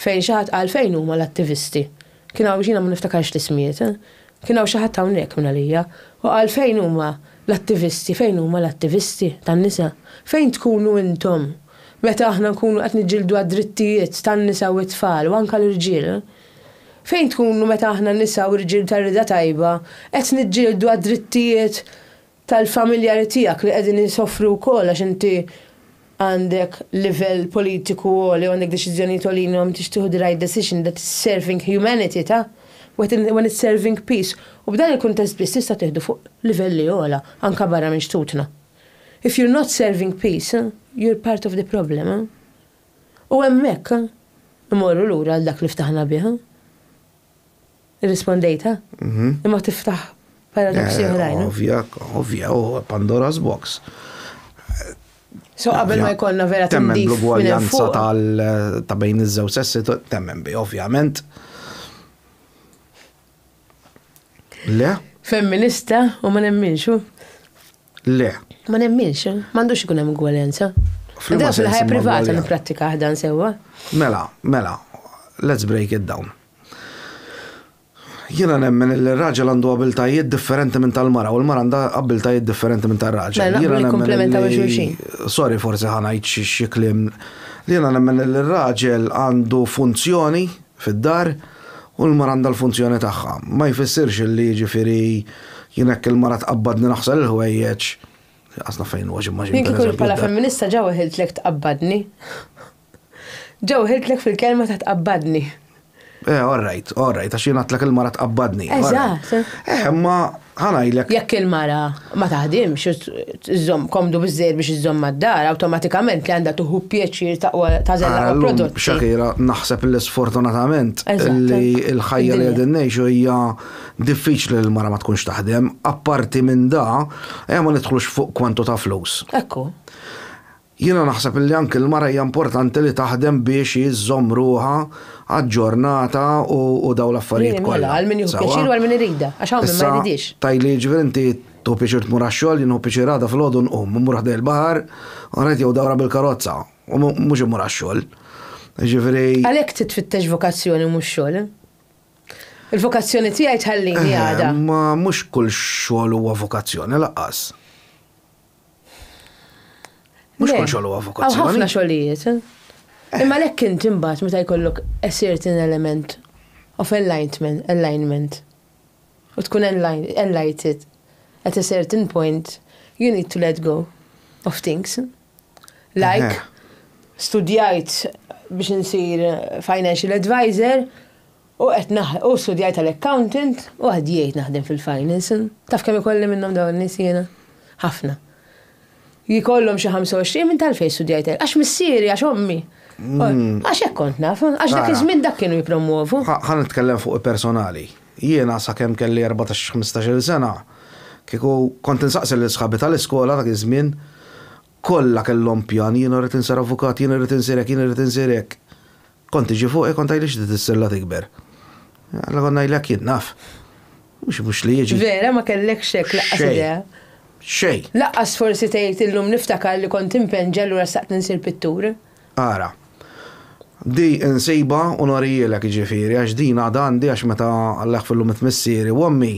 fejn xi ħadd qal fejn huma l-attivisti? Kien hawn, jiena ma niftakarx l-ismijiet, kien hawn xi ħadd hawnhekk minn għalija u qal fejn huma l-attivisti, fejn huma l-attivisti tan-nisa? Fejn tkunu intom meta aħna nkunu qed niġġieldu għad-drittijiet tan-nisa u t-tfal u anke l-irġiel? Fejn tkunu meta aħna nisa u rġiel tar-rieda tajba qed niġġieldu għad-drittijiet tal-familjari tiegħek li qegħdin isofru wkoll għax inti għandek livell politiku għoli u għandek deċiżjonijiet għoljin u tix tieħu the right decision that is serving humanity ta? when it's serving peace u b'dan il-kuntest biss tista' tieħdu fuq livelli ogħla anke barra minn xtutna. If you're not serving peace, you're part of the problem. U hemmhekk immorru lura għal dak li ftaħna bih. Irrispondejta? Mhm. Imma tiftaħ paradoksi eh, oħrajn. Ovvja, ovvja, u Pandora's Box. So qabel ma jkollna vera temmen l-ugwaljanza ta' bejn iż-żewġ sessi temmen bi, ovvjament. Le? Femminista u ma nemminxu. Le. Ma nemminx, m'għandux ikun hemm ugwaljanza. Fl-imma fil-ħajja privata nipprattika ħdan sewwa. Mela, mela, let's break it down. Jiena nemmen li r-raġel għandu abiltajiet differenti minn tal-mara u l-mara għandha abiltajiet differenti minn tar-raġel. Mela, jiena nikkumplementaw xulxin. Sorry, forsi ħanajt xi kliem. Jiena nemmen li r-raġel għandu funzjoni fid-dar. U l-mara għandha l-funzjoni tagħha. Ma jfissirx illi jiġifieri jien hekk il-mara tqabbadni naħsel il-ħwejjeġ, inqas naf fejn huwa xi mmaġina. Jien kieku bħala femminista ġa weħiltlek tqabbadni. Ġa weħiltlek fil-kelma ta' tqabbadni. Eh, all right, all right, għax jien għedtlek il-mara tqabbadni. Eżatt. Eh, imma ħanajlek. Jekk il-mara ma taħdimx iżżomm komdu biżżejjed biex iżżomm mad-dar, awtomatikament li għandha tieħu pjaċir taqwa tażel l-aqwa Allum, prodotti. Shakira, naħseb li sfortunatament Eżatt. li l-ħajja li Id-dinja. qegħdin ngħixu hija diffiċli li l-mara ma tkunx taħdem. Apparti minn da, ejja ma nidħlux fuq kwantu ta' flus. Ekku. Jiena naħseb illi anki l-mara hija importanti li taħdem biex hi żżomm ruħha aġġornata u u dawn l-affarijiet Jien kollha. mela, għal min jieħu Sewwa? pjaċir u għal min iridha, għax hawn min ma Issa, jridhiex. tgħidli jiġifieri inti tieħu pjaċir tmur għax-xogħol, jien nieħu pjaċir għada filgħodu nqum, immur ħdejn il-baħar, u ngħid jew dawra bil-karozza, u mu- mhux immur għax-xogħol. Jiġifieri, Għalhekk trid tfittex vokazzjoni mhux xogħol. Il-vokazzjoni tiegħi tħallini għada. eh, ma mhux kull xogħol huwa vokazzjoni laqqas. Mhux kull xogħol huwa vokazzjoni. Hawn ħafna xogħlijiet. Eh. Imma lek int imbagħad meta jkollok a certain element of enlightenment, alignment. U tkun enlighted at a certain point, you need to let go of things. Like, eh. studjajt biex insir financial advisor, U qed naħ, u studjajt għal accountant u għaddiejt naħdem fil-finance. Taf kemm ikolli minnhom dawn in-nies jiena? Ħafna. Jkollhom xi 25 minn tal-fejn studjajt hekk. Għax missieri, għax ommi. Mm. Għax hekk kont naf, għax dak iż-żmien dak kienu jippromwovu. Ħa nitkellem fuq personali. Jiena sakemm kelli 14-15 sena, kieku kont insaqsi lil sħabi tal-iskola dak iż-żmien, kollha kellhom pjan, jiena rrid insir avukat, jiena rrid insir hekk, jiena rrid insir hekk. Kont tiġi fuqi kont tgħidli x'di tissella tikber. Alla kont ngħidlek jien naf. Mhux mhux li jiġi. Vera ma kellekx hekk laqqas idea. Xej. Laqqas forsi tgħid illum niftakar li kont impenn ġa allura xtaqt insir pittur. Ara. Di insibha u norihielek jiġifieri għax din għadha għandi għax meta Alla jaħfirlu miet missieri u ommi,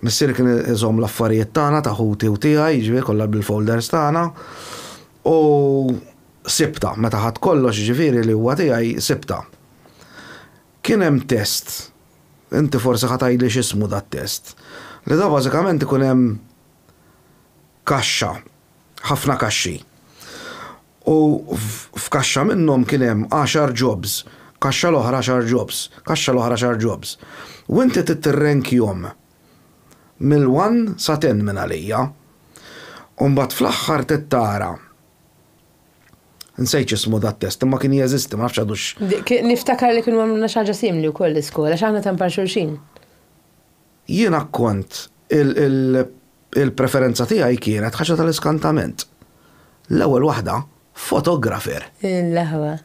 missieri kien iżomm l-affarijiet tagħna ta' ħuti u tiegħi jiġifieri kollha bil-folders tagħna u Sibtha, meta ħadt kollox, jiġifieri li huwa tiegħi, sibtha. Kien hemm test, inti forsi ħa tgħidli x'ismu dat-test, li da bażikament ikun hemm kaxxa, ħafna kaxxi. U f'kaxxa minnhom kien hemm għaxar jobs, kaxxa l-oħra għaxar jobs, kaxxa l-oħra għaxar jobs. U inti trid tirrenkjhom mill-one sa ten minn għalija. U mbagħad fl-aħħar trid tara Nsejt x'ismu dat test, imma kien jeżisti, ma nafx għadux. Niftakar li kienu għamluna xi ħaġa simli wkoll l-iskola, x'aħna temp għal xulxin. Jiena kont il-preferenza tiegħi kienet ħaġa tal-iskantament. L-ewwel waħda, fotografer. L-aħwa.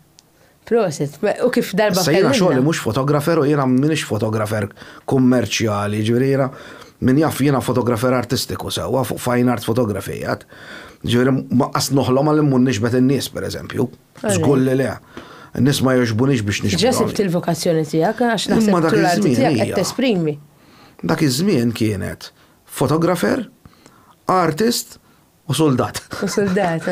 Proset, u kif darba. Issa jiena xogħli mhux fotografer u jiena m'iniex fotografer kummerċjali, ġifieri jiena min jaf jiena fotografer artistiku sewwa fuq fine art photography għad. Ġifieri ma qas noħlom għal immur nixbet in-nies pereżempju. Żgur li le. N-nies ma jogħġbunix biex nixbet. Ġa sibt il-vokazzjoni tiegħek għax naħseb li l-arti tiegħek qed tesprimi. Dak iż-żmien kienet fotografer, artist u suldat. U suldat.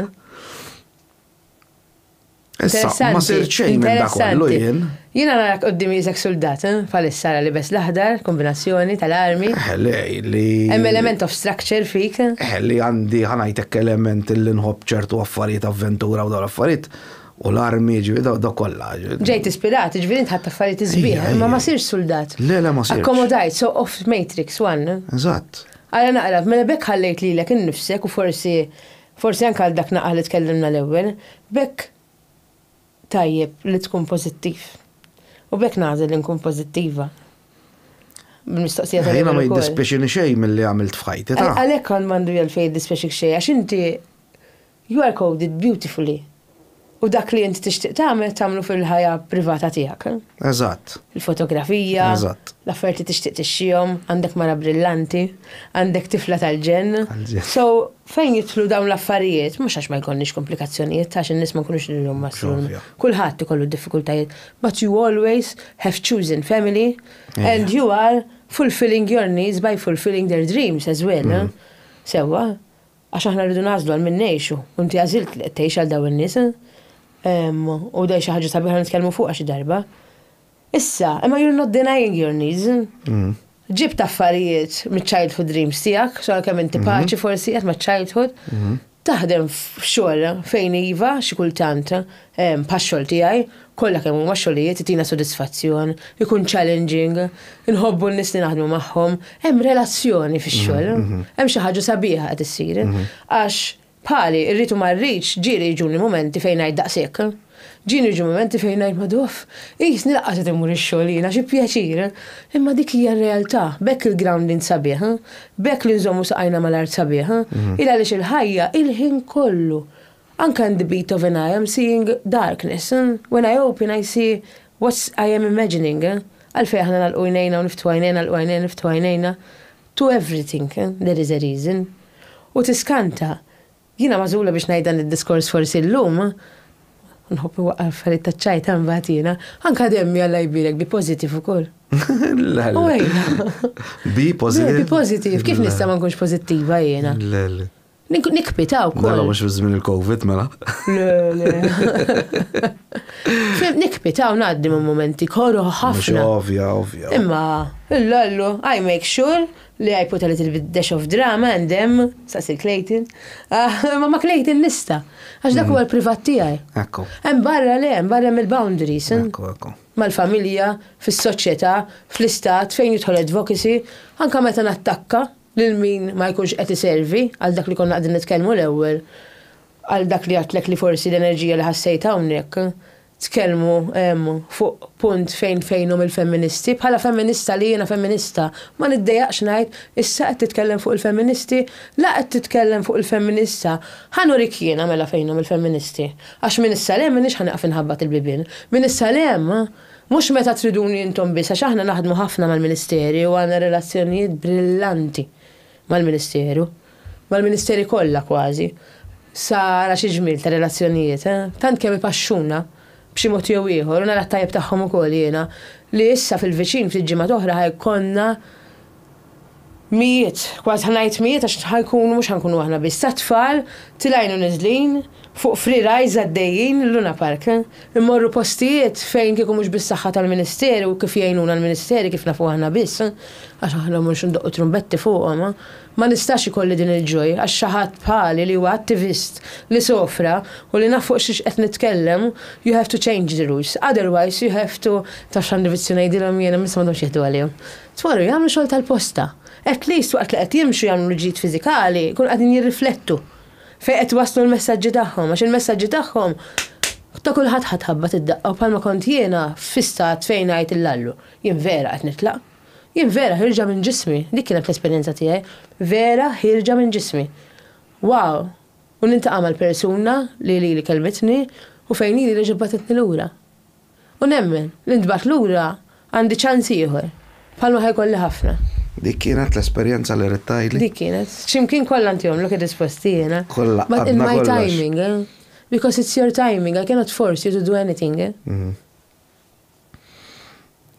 Issa, ma sirt xejn minn dak kollu jien. Jiena narak qudiem jisek suldat, eh? Bħalissa ara libes l-aħdar, kombinazzjoni tal-armi. Eh, li, li. Hemm element of structure fik. Eh, li għandi ħanajtek element li nħobb ċertu affarijiet avventura u dawn l-affarijiet. U l-armi ġivi daw daw kollha. Ġejt ispirat, ġivi ħadd affarijiet iżbieħ, imma ma sirx suldat. Le, le ma sirx. Akkomodajt, so of Matrix One. Eżatt. Għala naqra, mela bekk ħallejt lilek innifsek u forsi Forsi anke għal dak naqal li tkellimna l-ewwel, b'hekk tajjeb li tkun pożittiv. U b'hekk nagħżel li nkun pożittiva. Bil-mistoqsija tal-ewwel. Jiena ma jiddispjaċini xejn milli għamilt f'ħajti, ta. Għalhekk għandu għalfejn jiddispjaċik xejn għax inti you are coded beautifully. U dak li int tixtieq tagħmel tagħmlu fil-ħajja privata tiegħek. Eżatt. Il-fotografija. Eżatt. L-affarijiet li tixtieq tixxihom, għandek mara brillanti, għandek tifla tal-ġenn. Tal-ġenn. So, fejn jidħlu dawn l-affarijiet, mhux għax ma jkollniex komplikazzjonijiet, għax in-nies ma nkunux nilhom maslun. X'ovvja. Kulħadd ikollu d-diffikultajiet, but you always have chosen family Ejja. and you are fulfilling your needs by fulfilling their dreams as well. Sewwa? Għax aħna rridu nagħżlu għal min ngħixu, u inti għażilt li qed tgħix għal dawn in-nies. U dei xi ħaġa sabiħa nitkellmu fuqha xi darba. Issa, imma you're not denying your needs. Ġibt affarijiet miċ-childhood dreams tiegħek, xogħol kemm inti paċi forsi qed maċ-childhood. Taħdem f'xogħol fejn iva xi kultant Pax-xogħol tiegħi, kollha kemm huma xogħlijiet itina sodisfazzjon, ikun challenging, inħobbu n-nies li naħdmu magħhom, hemm relazzjoni fix-xogħol, hemm xi ħaġa sabiħa qed issir. Għax bħali, irrid u ma rridx, ġieli jiġuni mumenti fejn ngħid daqshekk. Ġieni jiġu mumenti fejn ngħid maduf, qisni lanqas qed immur ix-xogħol jiena, xi pjaċir. Imma dik hija r-realtà, b'hekk il-grounding sabiħ, b'hekk li nżommu saqajna mal-art sabiħ, il għaliex il-ħajja il-ħin kollu Anka in the beat of an I am seeing darkness, when I open I see what's I am imagining, għalfejn aħna nagħlqu għajnejna u niftħu għajnejna, nagħlqu għajnejna u niftħu għajnejna, to everything there is a reason. U tiskanta. Jiena magħżula biex ngħid dan id-diskors forsi llum, nħobb inwaqqar affarijiet taċ-ċajta mbagħad jiena, anka demmi Alla jbierek be positive ukoll. U ejja. Be positive. Be positive, kif nista' ma nkunx pożittiva jiena? Nikpita u koll. Dalla mux fizmin il-Covid, mela. Nikpita u naddi ma' momenti korru ħafna. Ovvja, ovvja. Imma, l-lollu, I make sure li I put a little bit dash of drama and them, sasil Clayton. Ah, ma ma Clayton nista. Għax dak mm. huwa l-privat tiegħi. Ekku. Hemm barra le, hemm barra mill-boundaries. Eh? Ekku, ekku. Mal-familja, fis-soċjetà, fl-istat, fejn jidħol advocacy, anka meta nattakka, lil min ma jkunx qed iservi, għal dak li konna qegħdin nitkellmu l-ewwel, għal dak li għedtlek li forsi l-enerġija li ħassejt hawnhekk, tkellmu fuq punt fejn fejnhom il-femministi, bħala femminista li jiena femminista, ma niddejjaqx ngħid, issa qed titkellem fuq il-femministi? La qed titkellem fuq il-femminista, ħa nurik jiena mela fejnhom il-femministi, għax minn issa 'l hemm m'iniex ħa nieqaf inħabbat il-bibien, minn issa 'l hemm, Mhux meta triduni intom biss għax aħna naħdmu ħafna mal-Ministeri u għandna relazzjonijiet brillanti mal-Ministeru, mal-Ministeri kollha kważi, sa ara xi ġmiel ta' relazzjonijiet, tant kemm ipaxxuna b'xi mod jew ieħor u nara t-tajjeb tagħhom ukoll jiena li issa fil-viċin ftit ġimgħat oħra ħa jkollna Mijiet, kważi ħa ngħid mijiet għax ħa jkunu mhux ħa nkunu aħna biss, ta' tfal tilgħin u niżlin fuq free rides għaddejjin mill-Luna Park. Immorru postijiet fejn kieku mhux bis-saħħa tal-Ministeru u kif jgħinuna l-Ministeri kif nafu aħna biss, għax aħna mhux ndoqqu trumbetti fuqhom, ma nistax ikolli din il-joy għax xi ħadd bħali li huwa attivist li sofra u li naf fuq xiex qed nitkellem, you have to change the rules, otherwise you have to, taf x'għandi vizzju ngħidilhom jien, imma issa m'għandhomx jieħdu għalihom. tmorru jagħmlu xogħol tal-posta. At least waqt li qed jimxu jagħmlu l-ġid fiżikali, jkunu qegħdin jirriflettu fejn qed iwasslu l-messaġġi tagħhom għax il-messaġġi tagħhom ta' kulħadd ħa tħabbat id-daqqa u bħalma kont jiena fi stat fejn ngħid il-lallu, jien vera qed nitlaq. Jien vera ħierġa minn ġismi, dik kienet l-esperjenza tiegħi, vera ħierġa minn ġismi. Wow! U niltaqa' mal-persuna li lili kellmitni u fejn lili reġgħet bagħtitni lura. U nemmen li ntbagħat lura għandi ċans ieħor, bħalma ħa jkolli ħafna. Dik kienet l-esperjenza li ridt tgħidli? Dik kienet. X'imkien kollha inti għomlok hi disposti jiena. Kollha għadna kollox. But in my timing, eh? Because it's your timing, I cannot force you to do anything, eh?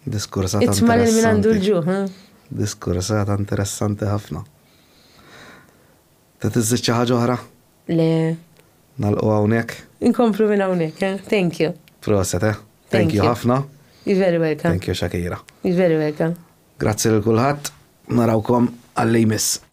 Diskursata interessanti. Itma' lil min għandu l-ġuħ, eh? Diskursata interessanti ħafna. Trid iżżid xi ħaġa oħra? Le. Nagħlqu hawnhekk? Inkomplu minn hawnhekk, eh? Thank you. Proset, eh? Thank you ħafna. You're very welcome. Thank you Shakira. You're very welcome. Grazzi lil kulħadd, narawkom għal-li jmiss.